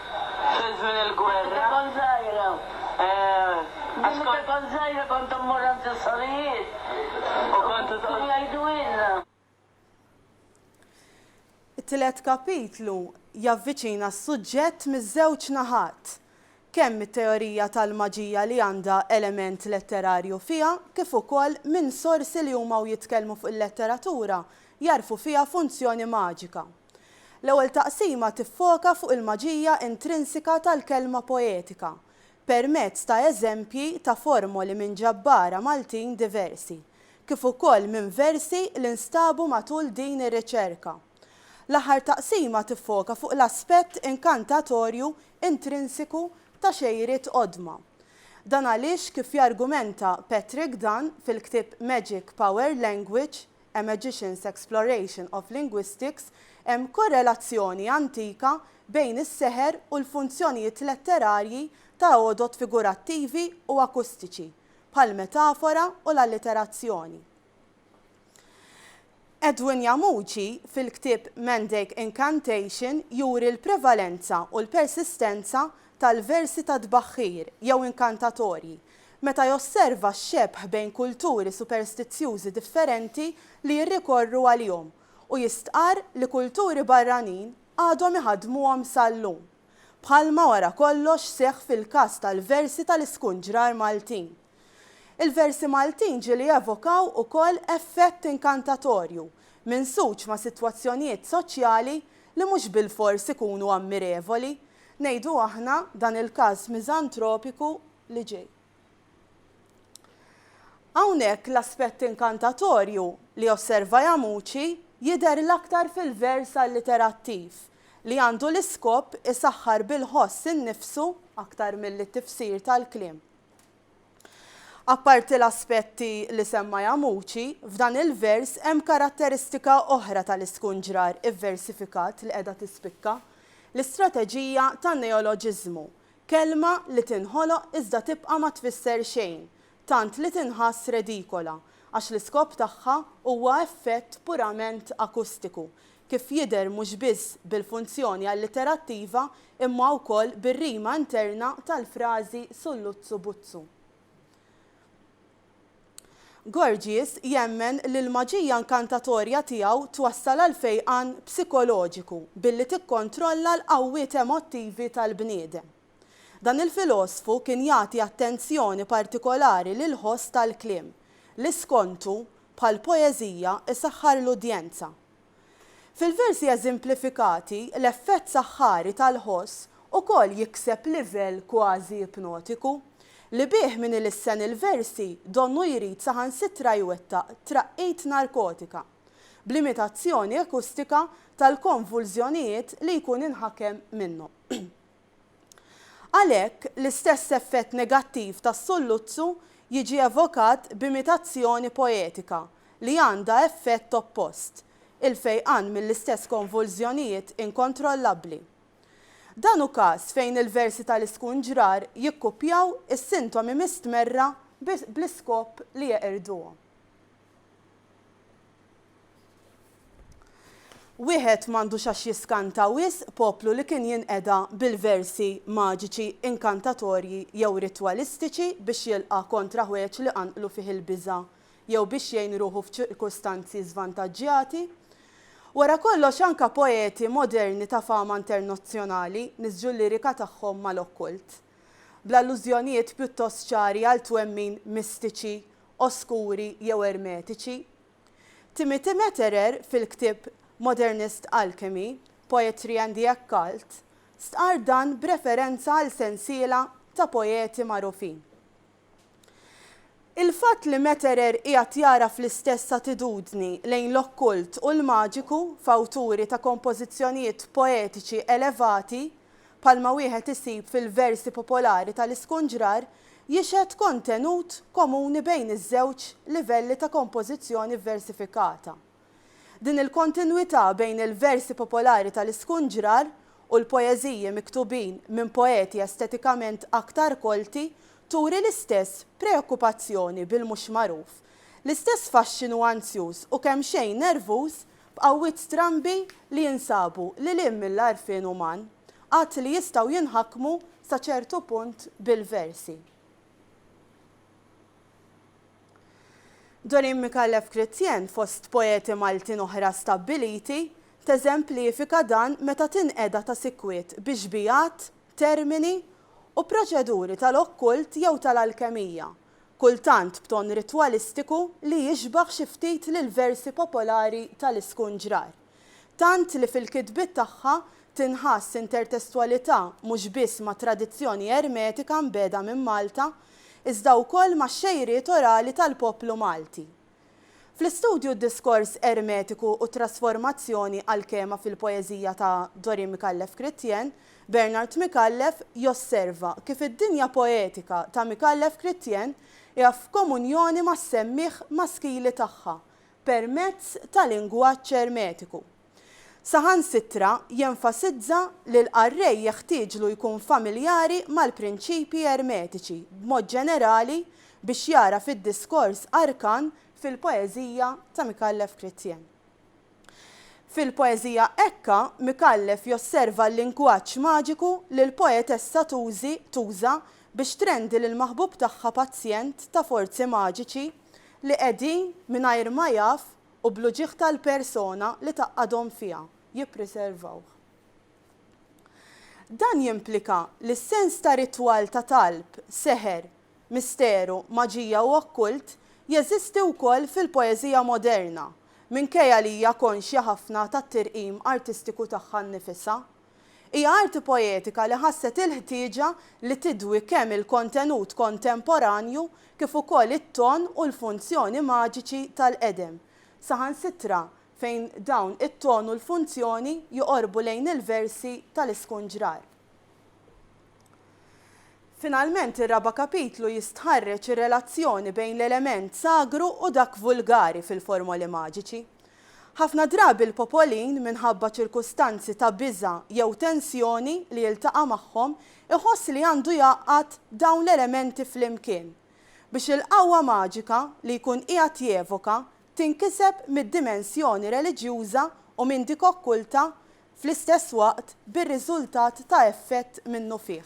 fi żmien il-gwerra. Meta kont żgħira. Għax kont. Meta kont żgħira kont immur għand is-sorijiet. U kont. U kienu jgħidulna. It-tielet kapitlu javviċina s-suġġett miż-żewġ naħat, kemm mit-teorija tal-maġija li għandha element letterarju fiha kif ukoll minn sorsi li huma u jitkellmu fuq il-letteratura jagħrfu fiha funzjoni maġika. L-ewwel taqsima tiffoka fuq il-maġija intrinsika tal-kelma poetika permezz ta' eżempji ta' formoli minn ġabbara Maltin diversi, kif ukoll minn versi li nstabu matul din ir-riċerka. L-aħħar taqsima tiffoka fuq l-aspett inkantatorju intrinsiku ta' xejriet qodma. Dan għaliex, kif jargumenta Patrick Dunne fil-ktieb Magic Power Language, A Magician's Exploration of Linguistics, hemm korrelazzjoni antika bejn is-seħer u l-funzjonijiet letterarji ta' għodod figurattivi u akustiċi, bħall-metafora u l-alliterazzjoni. Edwin Yamuji, fil-ktieb Mandake Incantation, juri l-prevalenza u l-persistenza tal-versi ta' tbaħħir jew inkantatorji, meta josserva x-xebh bejn kulturi superstizzjużi differenti li jirrikorru għalihom u jistqarr li kulturi barranin għadhom iħaddmuhom sal-lum, bħalma wara kollox seħħ fil-każ tal-versi tal-iskunġrar Maltin. Il-versi Maltin ġieli jevokaw ukoll effett inkantatorju, minsuġ ma' sitwazzjonijiet soċjali li mhux bilfors ikunu ammirevoli, ngħidu aħna, dan il-każ miżantropiku li ġej. Hawnhekk l-aspett inkantatorju li josserva Jamuci jidher l-aktar fil-vers alliterattiv, li għandu l-iskop isaħħar bil-ħoss innifsu aktar milli t-tifsir tal-kliem. Apparti l-aspetti li semma Yamuchi, f'dan il-vers hemm karatteristika oħra tal-iskunġrar ivversifikat li qiegħda tispikka, l-istrateġija tan-neoloġiżmu, kelma li tinħoloq iżda tibqa' ma tfisser xejn, tant li tinħass redikola, għax l-iskop tagħha huwa effett purament akustiku, kif jidher mhux biss bil-funzjoni alliterattiva imma wkoll bir-rima interna tal-frażi Sulluzzu Buzzu. Gorgies jemmen li l-maġija inkantatorja tiegħu twassal għal fejqan psikoloġiku billi tikkontrolla l-qawwiet emottivi tal-bniedem. Dan il-filosfu kien jagħti attenzjoni partikolari lill-ħoss tal-kliem, li skontu, bħall-poeżija, isaħħar l-udjenza. Fil-versi eżemplifikati, l-effett saħħari tal-ħoss ukoll jikseb livell kważi ipnotiku, li bih min ilissen il-versi donnu jrid saħansitra jwettaq traqqit narkotika, b'limitazzjoni akustika tal-konvulżjonijiet li jkun inħakem minnhom. Għalhekk, l-istess effett negattiv tas-sulluzzu jiġi evokat b'imitazzjoni poetika li għandha effett oppost, il-fejqan mill-istess konvulżjonijiet inkontrollabbli. Dan hu każ fejn il-versi tal-iskunġrar jikkupjaw is-sintomi mistmerra bl-iskop li jeqirduhom. Wieħed m'għandux għax jiskanta wisq poplu li kien jinqeda bil-versi maġiċi, inkantatorji jew ritwalistiċi biex jilqa' kontra ħwejjeġ li qanqlu fih il-biża' jew biex jgħin ruħu f'ċirkustanzi żvantaġġjati. Wara kollox anka poeti moderni ta' fama internazzjonali niżġu l-lirika tagħhom mal-okkult. Bl-allużjonijiet pjuttost ċari għal twemmin mistiċi oskuri jew ermetiċi. Timothy Meterer fil-ktieb Modernist Alchemy, Poetry and the Occult stqarr dan b'referenza għal sensiela ta' poeti magħrufin. Il-fatt li Meterer qiegħed jagħraf l-istess attitudni lejn l-okkult u l-maġiku f'awturi ta' kompożizzjonijiet poetiċi elevati bħalma wieħed isib fil-versi popolari tal-iskunġrar, jixhed kontenut komuni bejn iż-żewġ livelli ta' kompożizzjoni vversifikata. Din il-kontinwità bejn il-versi popolari tal-iskunġrar u l-poeżiji miktubin minn poeti estetikament aktar kolti turi l-istess preokkupazzjoni bil-mhux magħruf, l-istess faxxinu anzjuż u kemxejn nervuż b'qawwiet strambi li jinsabu lil hinn mill-għarfien uman, għad li jistgħu jinħakmu sa ċertu punt bil-versi. Dorin Micallef Chrétien, fost poeti Maltin oħra stabbiliti, teżemplifika dan meta tinqeda ta' sikwit bi xbijat, termini, u proċeduri tal-okkult jew tal-alkemija, kultant b'ton ritwalistiku li jixbah xi ftit lill-versi popolari tal-Iskunġrar. Tant li fil-kitbiet tagħha tinħass intertestwalità mhux biss mat-tradizzjoni Ermetika mbiegħda minn Malta, iżda wkoll max-xejriet orali tal-poplu Malti. Fl-istudju d-diskors ermetiku u t-trasformazzjoni għall-kema fil-poeżija ta' Dorin Micallef-Chrétien, Bernard Micallef josserva kif id-dinja poetika ta' Micallef-Chrétien hija f'komunjoni mas-semmiegħ maskili tagħha permezz ta' lingwaġġ ermetiku. Saħansitra jenfasizza li l-qarrej jeħtieġlu jkun familjari mal-prinċipji ermetiċi b'mod ġenerali biex jara fid-diskors arkan fil-poeżija ta' Micallef Chrétien. Fil-poeżija Ecca, Micallef josserva l-lingwaġġ maġiku li l-poetessa tużi, tuża, biex trendi lill-maħbub tagħha pazjent ta' forzi maġiċi li qegħdin, mingħajr ma jaf, u bl-uġigħ tal-persona li tgħaqqadhom fiha, jippriservawh. Dan jimplika li s-sens ta' ritwal ta' talb, seħer, misteru, maġija u okkult jeżisti wkoll fil-poeżija moderna, minkejja li hija konxja ħafna tat-tirqim artistiku tagħha nnifisha. Hija arti poetika li ħasset il-ħtieġa li tidwi kemm il-kontenut kontemporanju kif ukoll it-ton u l-funzjoni maġiċi tal-qedem, saħansitra fejn dawn it-ton u l-funzjoni joqorbu lejn il-versi tal-iskunġrar. Finalment, ir-raba' kapitlu jistħarreġ ir-relazzjoni bejn l-element sagru u dak vulgari fil-formoli maġiċi. Ħafna drabi l-popolin, minħabba ċirkustanzi ta' biża' jew tensjoni li jiltaqa' magħhom, iħoss li għandu jgħaqqad dawn l-elementi flimkien, biex il-qawwa maġika li jkun qiegħed jevoka tinkiseb mid-dimensjoni reliġjuża u minn dik okkulta fl-istess waqt bir-riżultat ta' effett minnufih.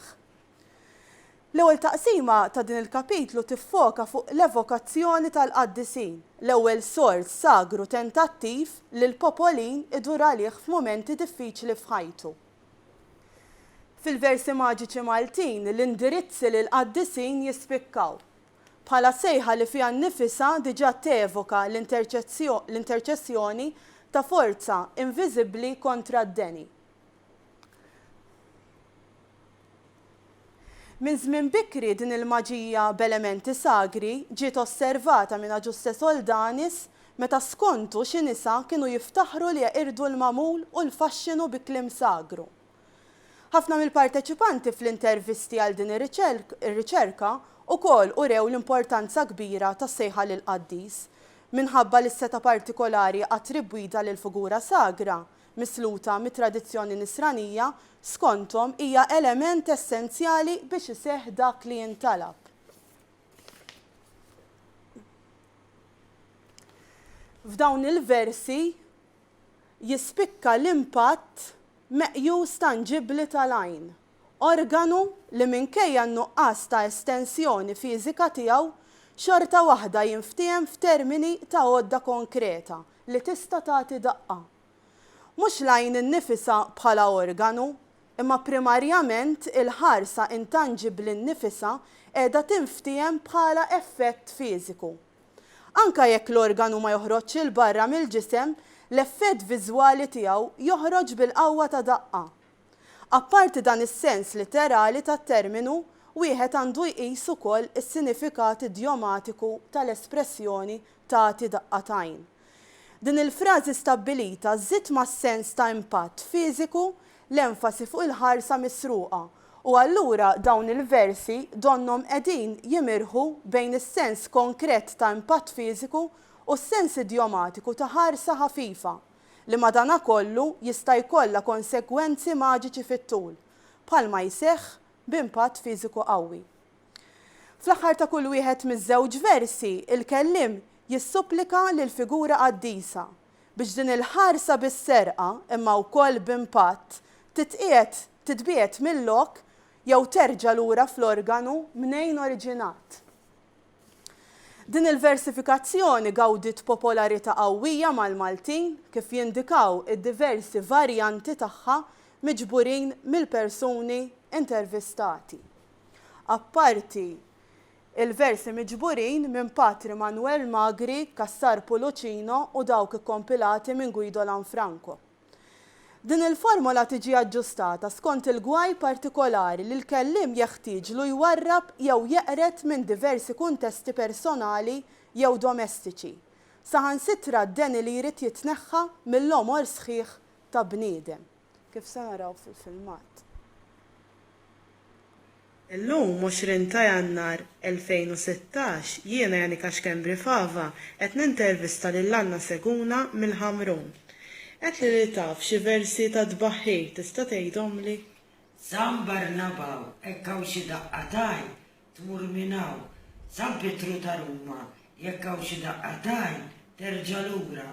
L-ewwel taqsima ta' din il-kapitlu tiffoka fuq l-evokazzjoni tal-qaddisin, l-ewwel sors sagru tentattiv li l-popolin idur għalih f'mumenti diffiċli f'ħajtu. Fil-versi maġiċi Maltin, l-indirizzi lill-qaddisin jispikkaw. bħala sejħa li fiha nnifisha diġà tevoka l-interċessjoni ta' forza inviżibbli kontra d-deni. Minn żmien bikri din il-maġija b'elementi sagri ġiet osservata minn Agiuste Soldanis meta skontu xi nisa kienu jiftaħru li jeqirdu l-magħmul u l-faxxinu bi kliem sagru. Ħafna mill-parteċipanti fl-intervisti għal din ir-riċerka ukoll urew l-importanza kbira tas-sejħa lill-qaddis. Minħabba li s-setgħa partikolari attribwita lill-figura sagra, misluta mit-tradizzjoni Nisranija, skonthom hija element essenzjali biex iseħħ dak li jintalab. F'dawn il-versi jispikka l-impatt meqjus tanġibbli tal-għajn, organu li minkejja n-nuqqas ta' estensjoni fiżika tiegħu xorta waħda jinftiehem f'termini ta' għodda konkreta li tista' tagħti daqqa. Mhux l-għajn innifisha bħala organu, imma primarjament il-ħarsa intanġibbli nnifisha qiegħda tinftiehem bħala effett fiżiku. Anke jekk l-organu ma joħroġx 'il barra mill-ġisem, l-effett viżwali tiegħu joħroġ bil-qawwa ta' daqqa. Apparti dan is-sens litterali tat-terminu, wieħed għandu jqis ukoll is-sinifikat idjomatiku tal-espressjoni tagħti daqqa t'għajn. Din il-frażi stabbilita żżid mas-sens ta' impatt fiżiku l-enfasi fuq il-ħarsa misruqa, u allura dawn il-versi donnhom qegħdin jimirħu bejn is-sens konkret ta' impatt fiżiku u s-sens idjomatiku ta' ħarsa ħafifa, li madankollu jista' jkollha konsegwenzi maġiċi fit-tul, bħalma jseħħ b'impatt fiżiku qawwi. Fl-aħħar ta' kull wieħed miż-żewġ versi, il-kelliem jissupplika lill-figura qaddisa biex din il-ħarsa bis-serqa, imma wkoll b'impatt, titqiegħed, titbiegħed mil-lok jew terġa' lura fl-organu mnejn oriġinat. Din il-versifikazzjoni gawdiet popolarità qawwija mal-Maltin, kif jindikaw id-diversi varjanti tagħha miġburin mill-persuni intervistati. apparti l-versi miġburin minn Patri Manwel Magri, Cassar Pulucino u dawk ikkompilati minn Guido Lanfranco. Din il-formola tiġi aġġustata skont il-gwaj partikolari li l-kelliem jeħtieġlu jwarrab jew jeqred minn diversi kuntesti personali jew domestiċi, saħansitra d-deni li jrid jitneħħa mill-għomor sħiħ ta' bniedem. kif se naraw fil-filmat. Illum, 20 ta' Jannar 2016, jiena Janika Schembri Fava qed nintervista lil Anna Seguna mill-Ħamrun. Għedtli li taf xi versi tat-tbaħħir, tista' tgħidhomli? San Barnabau, hekk hawn xi daqqa t'għajn, tmur minn hawn. San Pietru ta' Ruma, jekk hawn xi daqqa t'għajn, terġa' lura.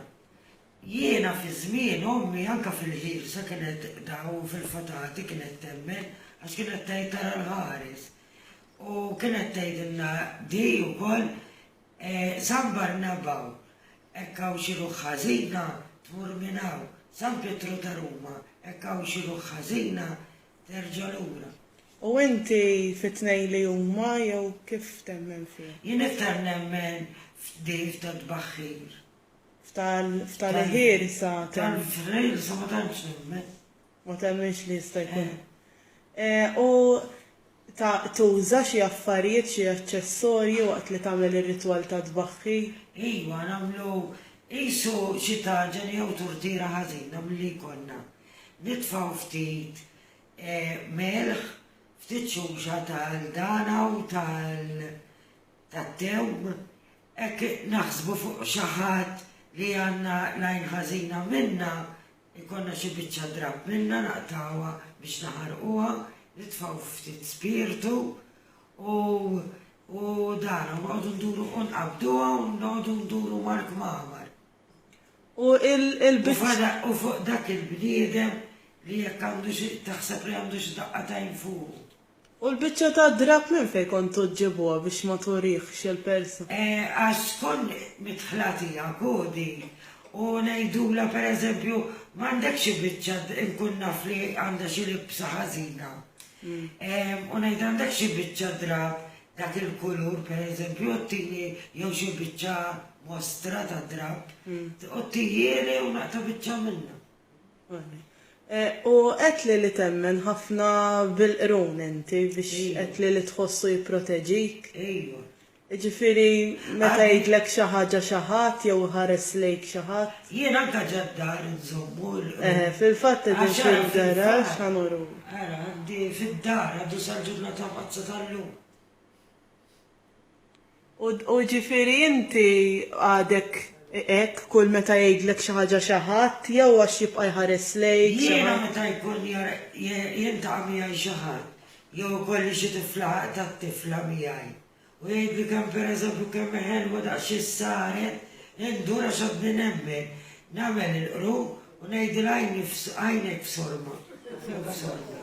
Jiena fi żmien ommi anke fil-ħielsa kienet tqdaw fil-fatati kienet temmen għax kienet tgħid tara l-ħares u kienet tgħidilna di ukoll San Barnabau hekk hawn xi ruħ ħażina tmur minn hawn, San Pietru ta' Ruma hekk hawn xi ruħ ħażina terġa' lura. U inti fit-tnejn li huma jew kif temmen fihom? Jien iktar nemmen f'Dave tat-Tbaħħir. F'tali ħin issa temm. Tali ġrejr issa ma temmx nemmen. Ma temminx li jista' jkun. U ta' tuża xi affarijiet, xi aċċessorji waqt li tagħmel ir-ritwal tat-tbaħħir? Iva, nagħmlu qisu xi taġen jew turtiera ħażina milli jkollna. Nitfgħu ftit milħ, ftit xuxa tal-dana u tat-tewm. Hekk naħsbu fuq xi ħadd li għandna l-għajn ħażina minna, ikollna xi biċċa drapp minna naqtgħuha biex naħarquha, nitfgħu ftit spirtu u u dan u noqogħdu nduru u nqabbduha u noqogħdu nduru mal-kmamar. U il-biċċa. U fuq dak il-bniedem li jekk għandu xi taħseb li għandu xi daqqa t'għajn fuqu. U l-biċċa tad-drapp minn fejn kontu ġġibuha biex ma turihx il-persa? Għax tkun midħla tiegħek hu din u ngħidulha per eżempju m'għandekx xi biċċa inkun naf li għandha xi libsa ħażina u ngħidha għandek xi biċċa drapp dak il-kulur per eżempju u tini jew xi biċċa mostra tad-drapp u tihieli u naqta' biċċa minnha. U għedtli li temmen ħafna bil-qrun inti biex għedtli li tħossu jipproteġik. Ejwa. Jiġifieri meta jgħidlek xi ħaġa xi ħadd jew iħares lejk xi ħadd. Jien anke ġa d-dar inżommu l-qrun. Eħe, fil-fatt qegħdin fil-garaxx, ħa nuruk. Ara, għandi fid-dar għadu sal-ġurnata mqaddsa tal-lum. U ġifieri inti għadek hekk kull meta jgħidlek xi ħaġa xi ħadd jew għax jibqa' jħares lejk xi ħadd? Jiena meta jkun jiltaqa' miegħi xi ħadd jew ikolli xi tifla għaqda t-tifla miegħi u jgħidli kemm pereżempju kemm hi ħelwa daqsxejn saret indur għax għadni nemmen, nagħmel il-qrun u ngħidilha għajnek f'sorma, jew f'sorma.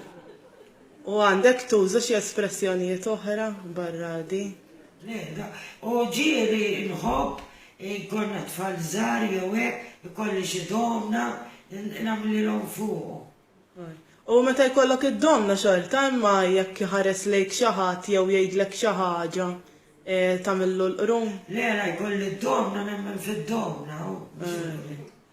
U għandek tuża xi espressjonijiet oħra barra di? L-ehda, O ġieli nħobb jkollna t-tfal żgħar jew hekk, ikolli xi domna nagħmlilhom fuqu. U meta jkollok id-domna xorta imma jekk iħares lejk xi ħadd jew jgħidlek xi ħaġa tagħmillu l-qrum? Le, la jkolli d-domna nemmen fid-domna, hu biex ikun hekk.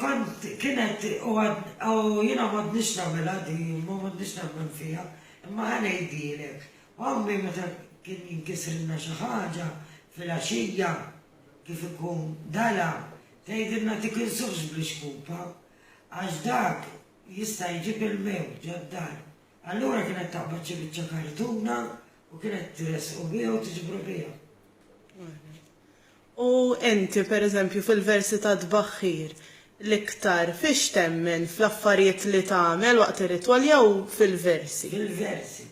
Kont, kienet u għad, u jiena m'għadnix nagħmilha di, imma m'għadnix nemmen fiha, imma ħa ngħidilek, Għammi meta kien jinkisrilna xi ħaġa filgħaxija, kif ikun dala, tgħidilna tikinsux bl-ixkupa, għax dak jista' jġib il-mewt ġad-dar. Allura kienet taqbad xi biċċa kartuna u kienet tressqu biha u tiġbru biha. U inti, per eżempju, fil-versi tat-tbaħħir, l-iktar fiex temmen, fl-affarijiet li tagħmel waqt ir-ritwal jew fil-versi? Fil-versi.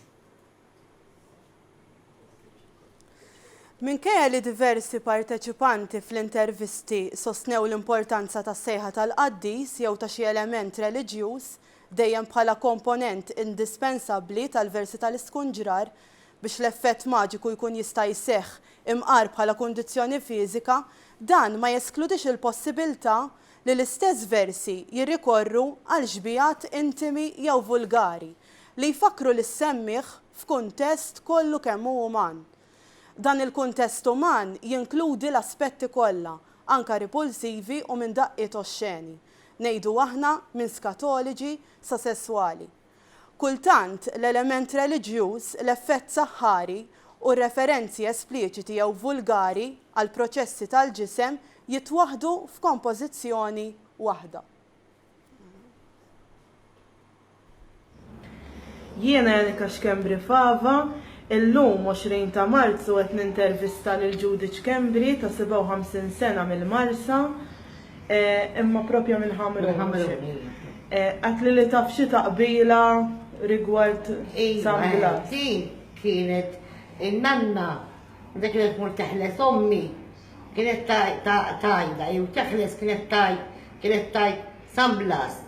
Minkejja li diversi parteċipanti fl-intervisti sostnew l-importanza tas-sejħa tal-qaddis jew ta' xi element reliġjuż dejjem bħala komponent indispensabbli tal-versi tal-iskunġrar biex l-effett maġiku jkun jista' jseħħ imqar bħala kundizzjoni fiżika, dan ma jeskludix il-possibilità li l-istess versi jirrikorru għal xbigħat intimi jew vulgari li jfakkru lis-semmiegħ f'kuntest kollu kemm hu uman. Dan il-kuntest uman jinkludi l-aspetti kollha, anke ripulsivi u minn daqqiet oxxeni, ngħidu aħna minn skatoloġi sa sesswali. Kultant, l-element reliġjuż, l-effett saħħari, u r-referenzi espliċiti jew vulgari għall-proċessi tal-ġisem jitwaħħdu f'kompożizzjoni waħda. Jiena Janica Schembri Fava, illum 20 ta' Marzu qed nintervista lil Judith Schembri ta' 57 sena mill-Marsa. Imma propja minn Ħamrun. Minn Ħamrun, iva. Qatli li taf xi taqbila rigward San Blas. Iva, din kienet in-nanna meta kienet tmur teħles ommi kienet tgħidha jew teħles kienet tgħid kienet tgħid San Blas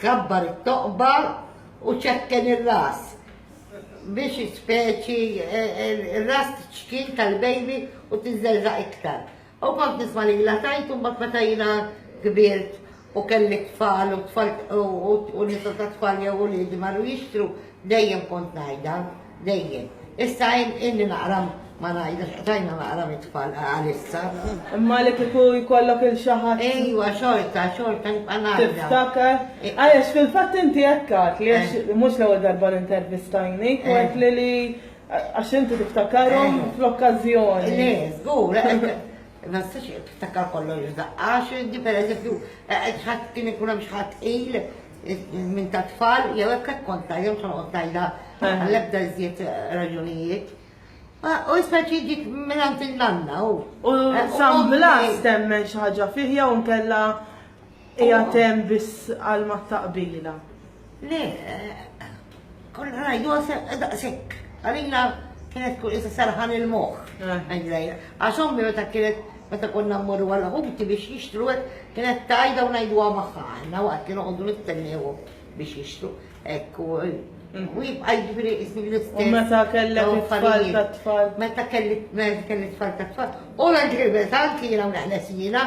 kabbar it-toqba u ċekken ir-ras biex speċi ir-ras tċkil tal-bejbi u tiżżelżaq iktar. U kont nisma' lilha tgħid u mbagħad meta jiena kbirt u kelli t-tfal u t-tfal u nisa tat-tfal jew uliedi marru jixtru, dejjem kont ngħidha, dejjem. Issa ilni naqra ma ngħidhax, qtajna naqra mit-tfal għalissa. Imma li kieku jkollok lil xi ħadd. Ejwa, xorta, xorta nibqa' ngħidha. Tiftakar. Għaliex fil-fatt inti hekk għedtli, għax mhux l-ewwel darba li intervistajnik, u għedtli li Għax inti tiftakarhom eh. fl-okkażjoni. Le, żgur, eh, ma tistax tiftakar kollox daqqa, x'inti pereżempju eh, ħadd kien ikun hemm x'ħadd qil minn ta' tfal jew hekk qed konta jew x'noqgħod tajda għall-ebda iżjed raġunijiet. U issa ġiġik minn għand il-nanna u. U San Blas temmen xi ħaġa fih jew nkella Ija tem biss għal ma taqbila. Le, konna rajdu għasek, daqsek. Għalina kienet kull isa sarħan il-moħ. Eh. Għax ommi meta kienet meta konna mmorru għal ħuti biex jixtru kienet tajda u najdu għamaħħa għanna waqt kienu għoddu nittennew biex jixtru. Ekku, mm. u jibqa jibri isni l-istess. U meta kellek it-tfal ta' tfal. Meta kellek it-tfal ta' tfal. U l-ġirbetan kiena u naħna sijina.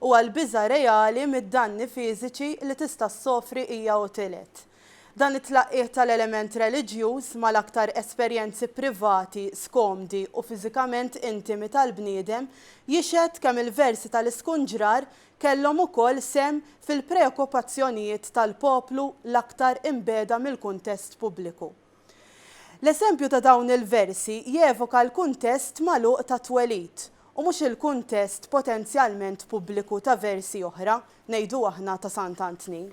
u għall-biża' reali mid-danni fiżiċi li tista' ssofri hija u tielet. Dan it-tlaqqigħ tal-element reliġjuż mal-aktar esperjenzi privati, skomdi u fiżikament intimi tal-bniedem jixhed kemm il-versi tal-iskunġrar kellhom ukoll sehem fil-preokkupazzjonijiet tal-poplu l-aktar imbiegħda mill-kuntest pubbliku. L-eżempju ta' dawn il-versi jevoka l-kuntest magħluq tat-twelid, u mhux il-kuntest potenzjalment pubbliku ta' versi oħra, ngħidu aħna ta' Sant'Antni.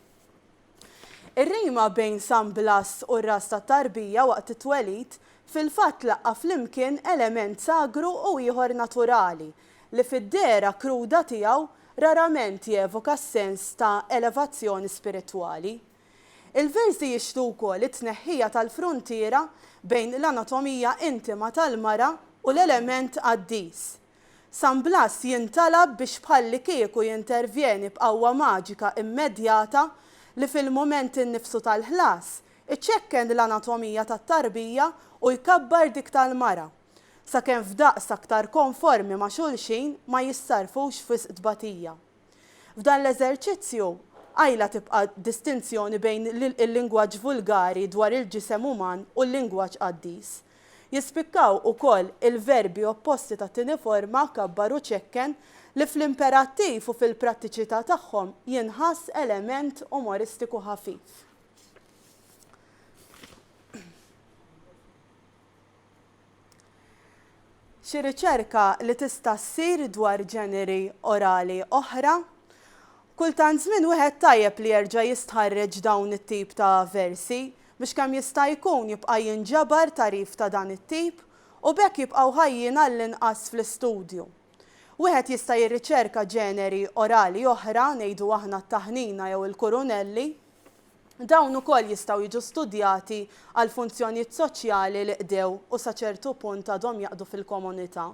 Ir-rima bejn San Blas u r-ras tat-tarbija waqt it-twelid fil-fatt tlaqqa' flimkien element sagru u ieħor naturali, li fid-dehra kruda tiegħu rarament jevoka s-sens ta' elevazzjoni spiritwali. Il-versi jixhdu wkoll it-tneħħija tal-fruntiera bejn l-anatomija intima tal-mara u l-element qaddis. San Blas jintalab biex bħallikieku jintervjeni b'qawwa maġika immedjata li fil-mument innifsu tal-ħlas iċekken l-anatomija tat-tarbija u jkabbar dik tal-mara, sakemm f'daqs aktar konformi ma' xulxin ma jissarrfux f'wisq tbatija. F'dan l-eżerċizzju, qajla tibqa' distinzjoni bejn il-lingwaġġ vulgari dwar il-ġisem uman u l-lingwaġġ qaddis. Jispikkaw ukoll il-verbi opposti tat-tieni forma, kabbar u ċekken, li fl-imperattiv u fil-prattiċità tagħhom jinħass element umoristiku ħafif. Xi riċerka li tista' ssir dwar ġeneri orali oħra? Kull tant żmien wieħed tajjeb li jerġa' jistħarreġ dawn it-tip ta' versi biex kemm jista' jkun jibqa' jinġabar tagħrif ta' dan it-tip u b'hekk jibqgħu ħajjin għall-inqas fl-istudju. Wieħed jista' jirriċerka ġeneri orali oħra, ngħidu aħna t-taħnina jew il-kurunelli. Dawn ukoll jistgħu jiġu studjati għall-funzjonijiet soċjali li qdew u sa ċertu punt għadhom jaqdu fil-komunità.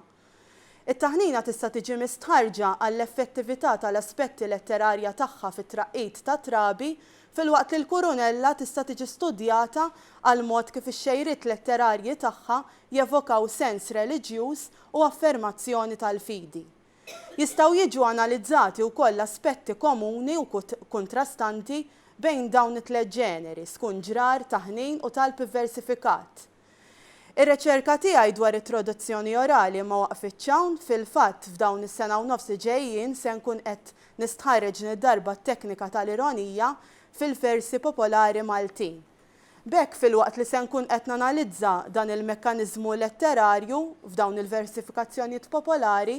It-taħnina tista' tiġi mistħarrġa għall-effettività tal-aspetti letterarja tagħha fit-traqqid ta' trabi, filwaqt li l-kurunella tista' tiġi studjata għall-mod kif ix-xejriet letterarji tagħha jevokaw sens reliġjuż u affermazzjoni tal-fidi. Jistgħu jiġu analizzati wkoll l-aspetti komuni u kuntrastanti bejn dawn it-tliet ġeneri, skun ġrar, taħnin u talb ivversifikat. Ir-reċerka tiegħi dwar it-traduzzjoni orali ma waqfitx hawn, fil-fatt f'dawn is-sena u nofs li ġejjin se nkun qed nistħarreġ din id-darba t-teknika tal-ironija fil-versi popolari Maltin. B'hekk, filwaqt li se nkun qed nanalizza dan il-mekkaniżmu letterarju f'dawn il-versifikazzjonijiet popolari,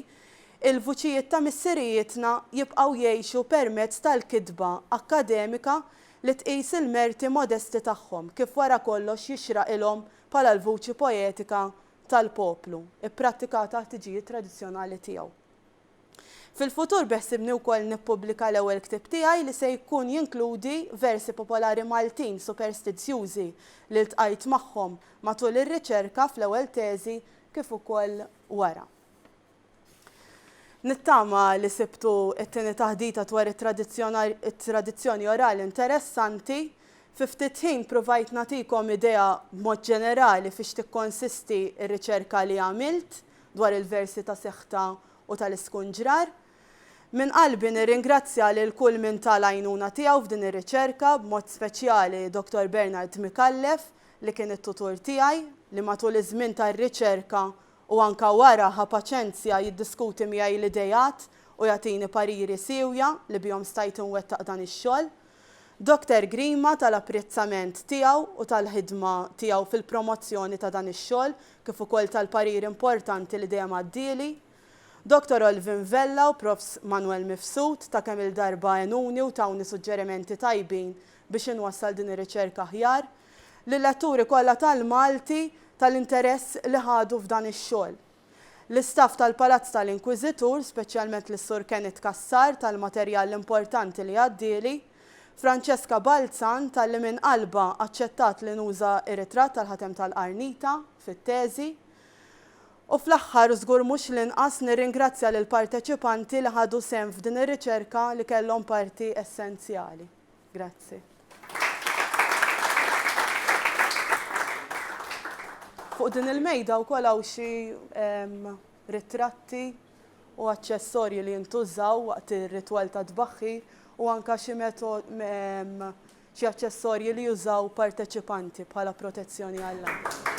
il-vuċijiet ta' missirijietna jibqgħu jgħixu permezz tal-kitba akkademika li tqis il-merti modesti tagħhom kif wara kollox jixraqilhom bħala l-vuċi poetika tal-poplu, ipprattikata għat-tiġijiet tradizzjonali tiegħu. Fil-futur beħsibni wkoll nippubblika l-ewwel ktieb tiegħi li se jkun jinkludi versi popolari Maltin superstizzjużi li ltqajt magħhom matul ir-riċerka fl-ewwel teżi kif ukoll wara. Nittama li sibtu t-tieni taħdita dwar it-tradizzjoni orali interessanti. Fi ftit ħin pruvajt nagħtikom idea b'mod ġenerali fiex tikkonsisti r-riċerka li għamilt dwar il-versi ta' Seħta u tal-Iskunġrar. Minn qalbi nirringrazzja lil kull min ta l-għajnuna tiegħu f'din ir-riċerka, b'mod speċjali Dottor Bernard Micallef li kien it-tutur tiegħi, li matul iż-żmien tar-riċerka u anke wara ħa paċenzja jiddiskuti miegħi l-ideat u jagħtini pariri siewja li bihom stajt inwettaq dan ix-xogħol. Dottor Grima ta l-apprezzament tiegħu u tal-ħidma tiegħu fil-promozzjoni ta' dan ix-xogħol kif ukoll tal-parir importanti li dejjem għaddieli, Dottor Olvin Vella u Profs. Manwel Mifsud ta' kemm-il darba għenuni u tawni suġġerimenti tajbin biex inwassal din ir-riċerka aħjar lil-letturi kollha tal-Malti tal-interess li ħadu f'dan ix-xogħol. L-istaff tal-Palazz tal-Inkwiżitur, speċjalment lis-Sur Kenneth Cassar tal-materjal importanti li għaddieli. Francesca Balzan talli minn qalbha aċċettat li nuża r-ritratt tal-ħatem tal-qarnita fit-teżi. U fl-aħħar u żgur mhux l-inqas nirringrazzja lill-parteċipanti li ħadu sehem f'din ir-riċerka li kellhom parti essenzjali. Grazzi. Fuq din il-mejda wkoll hawn xi ritratti u aċċessorji li jintużaw waqt ir-ritwal tat-tbaħħir u anke xi xi aċċessorji li jużaw parteċipanti bħala protezzjoni għall-għajn.